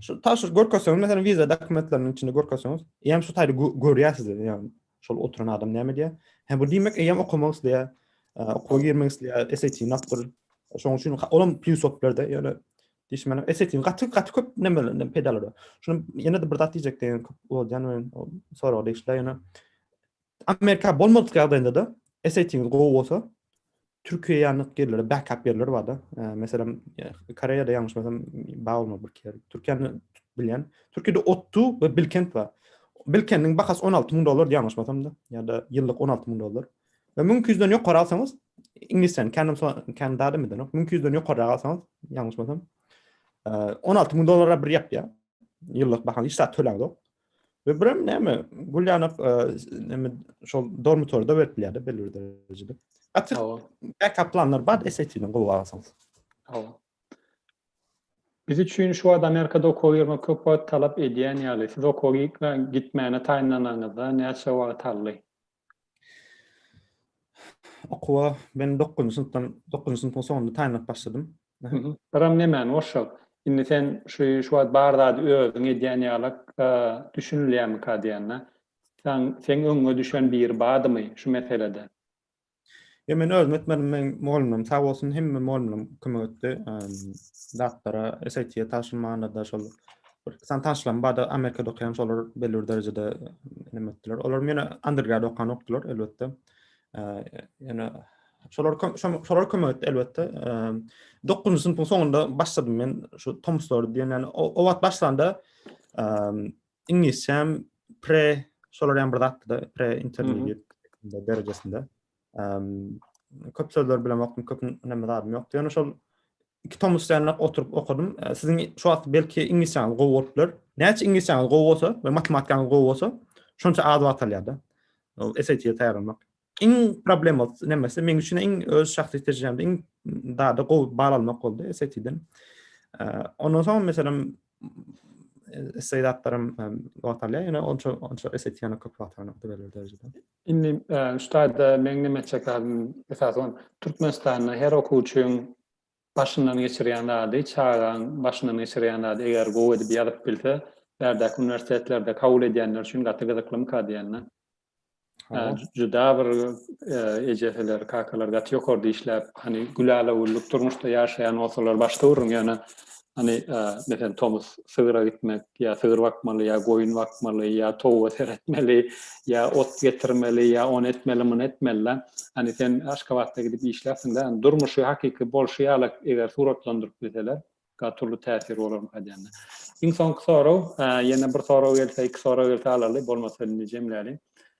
Şu taşyr görkezseňiz, meselem, viza dokumentleriniň içinde görkezseňiz, eýem şu taýda görýärsiz, ýagny şol oturan adam näme diýýär? Hä, bu diýmek, eýem okamak isleýär, okuwa girmek isleýär, SAT-ni apdyr. Şonuň üçin olam plýus bolup berdi, ýöne diýişmeli, SAT-ni gaty gaty köp nämelerinden peýdalanýar. Şuny ýene-de bir zat diýjekdim, köp bolýan we sorag degişli, ýöne Amerika bolmadyk ýagdaýynda-da SAT-ňiz gowy bolsa, Türkiýä ýanyk ýerlere backup ýerler bar-da. Meselem, Koreýada ýalňyşmasam, bar bolmaly bir ýer. Türkiýäni bilýän. Türkiýede Ottu we Bilkent bar. Bilkentiň bahasy 16 müň dollardy ýalňyşmasam-da, ýa-da ýyllyk 16 müň dollar. We müň iki ýüzden ýokary alsaňyz, iňlisçäni Canada-da bilenok, müň iki ýüzden ýokaryrak alsaňyz, ýalňyşmasam, 16 müň dollara bir ýapýar. Ýyllyk bahasy hiç zat töläňzok. Ve birem näme? Gül ýanak näme şol dormitorda berip bilýärdi belli bir derejede. Gaty backup planlar bar SAT-ni gowy alsaň. Hawa. Biz üçin şu wagt Amerikada okuwa girmek köp wagt talap edýän ýaly. Siz okuwa gitmäne taýynlanaňyzda näçe wagt aldy? Okuwa men 9-njy synpdan, 9-njy synpyň soňunda taýynlap başladym. Ram nemäni goşjak? Indi sen şu şu wagt bar zady özüň edýän ýalak düşünilýärmika diýende, seň öňüňe düşen biri bardymy şu meselede? Ýok, men özüm etmedim, meň mugallymlarym sag bolsun, hemme mugallymlarym kömek etdi. Datlara, SAT-ä tabşyrmanda-da şol bir san taşlama bardy. Amerikada okaýan şolar belli bir derejede neme etdiler. Olar ýöne undergrad okanokdylar elbetde. Ýöne şolar şolar kömek etdi elbetde. 9-njy synpyň soňunda başladym men şu Tomslary diýen. Ýani o wagt başlanda iňlisçem pre şolar ýaly bir zatdy da, pre intermediate derejesinde. Köp sözler bilen wagtym köp näme zadym ýokdy. Ýöne şol iki tom üstünlik oturyp okadym. Siziň şu wagt belki iňlisçäňiz gowy bolup biler. Näçe iňlisçäňiz gowy bolsa we matematikaňyz gowy bolsa, şonça az wagt alýar-da. Ol SAT-e taýýarlanmak. Iň problema nämesi? Meniň üçin iň öz şahsy tejribemde iň dada gowy bal almak boldy SAT-den. Ondan soň meselem SAT-larym wagt alýar, ýöne onça onça SAT-ýa köp wagt alýar, belli bir derejede. Indi şu taýda meň näme etjek zadym esasy bolan Türkmenistanda her okuwçyň başyndan geçirýän zady, çagaň başyndan geçirýän zady eger gowy edip ýazyp bilse, bärdäki uniwersitetlerde kabul edýänler üçin gaty gyzyklymyka diýenden. Juda bir ejeseler, kakalar gaty ýokarda işläp, hany gülälewüllük durmuşda ýaşaýan bolsalar başda gürrüň, ýöne Hany, meselem, tomus sygyra gitmek, ýa sygyr bakmaly, ýa goýun bakmaly, ýa towuga seretmeli, ýa ot getirmeli, ýa ony etmeli, muny etmeli. Hany, sen Aşgabatda gidip işläpsiň-dä, durmuşy hakyky bolşy ýaly eger suratlandyryp bilseler, gaty uly täsir bolarmyka aýdýan-da. Iň soňky sorag, ýene bir sorag gelse, iki sorag gelse alaly, bolmasa indi jemläliň.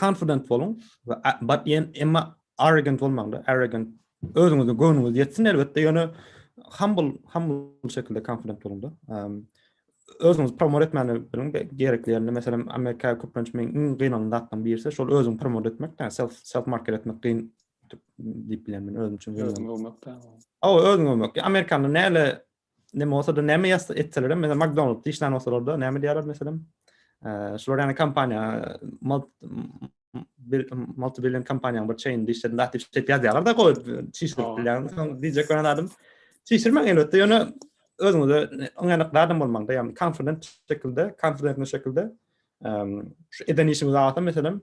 confident boluň we but ýen emma arrogant bolmaň da arrogant özüňizi göwnüňiz ýetsin elbetde ýöne humble humble şekilde confident boluň da özüňizi promote etmäni biliň gerekli ýerinde meselem amerika köplenç men iň gynalan zatdan birisi şol özüňi promote etmek da self self market etmek gyn diýip bilýän men özüm üçin özüňi öwmek da o özüňi öwmek amerikanyň näle Näme bolsa-da, näme ýazsa etselerem, meselem, McDonald's işlän bolsalar-da, näme diýerler, meselem, şular ýaly kompaniýa, multibillion kompaniýanyň bir çeýninde işledim, zat diýip ýazýarlar-da, goý, çişirip bilýän, soň diýjek bolan adam, çişirmäň elbetde, ýöne özüňize ynanyk adam bolmaň-da, ýagny konfident şekilde, konfidentne şekilde, şu eden işiňizi alsa, meselem,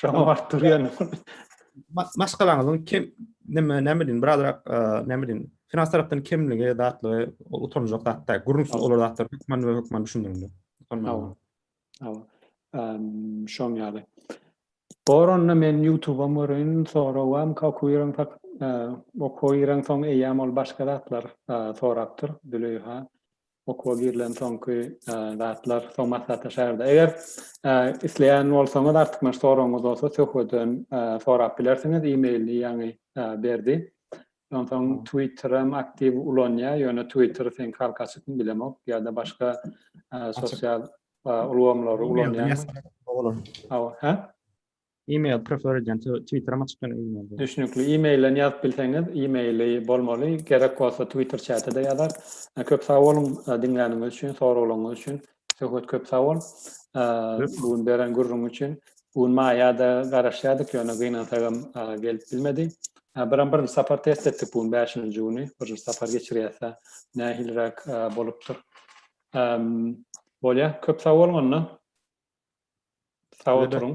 Şoňa baryp durýan. Maşgalaňyzyň kim näme näme diýin, birazrak näme diýin, finans tarapdan kimligi, zatlygy, utanjak zatda, gürrüňsiz olar zatlar hökman we hökman düşündiriň. Hawa. Hawa. Ehm, şoň ýaly. Bor onda men YouTube-a görün, soragam kakuýran tak, e, okuýran soň eýäm ol başga zatlar e, sorapdyr, Züleyha. okuwa girilen soňky zatlar soň maslahatlaşarda. Eger isleýän bolsaňyz artykmaç soragyňyz bolsa söhbeden sorap bilersiňiz e-mailini ýaňy berdi. Onsoň Twitterem aktiw ulanýar, ýöne Twitter sen halka açykmy bilemok ýa-da başga sosial ulgamlary ulanýar. Awa, hä? Email prefer edýän twitteram açyk ýöne email. Düşnükli emailden ýazyp bilseňiz emaili bolmaly gerek bolsa twitter çätede ýazar. Köp sag boluň diňläniňiz üçin soraglaryňyz üçin Söhbet köp sag bol bu gün beren gürrüň üçin. Bu gün maýada garaşýardyk ýöne gynansagam gelip bilmedi. Biram birinji sapar test etdik bu gün bäşinji güni birinji sapar geçirýäsä nähiliräk bolupdyr. Ehm, bolýar. Köp sag boluň onda. Sag oturuň.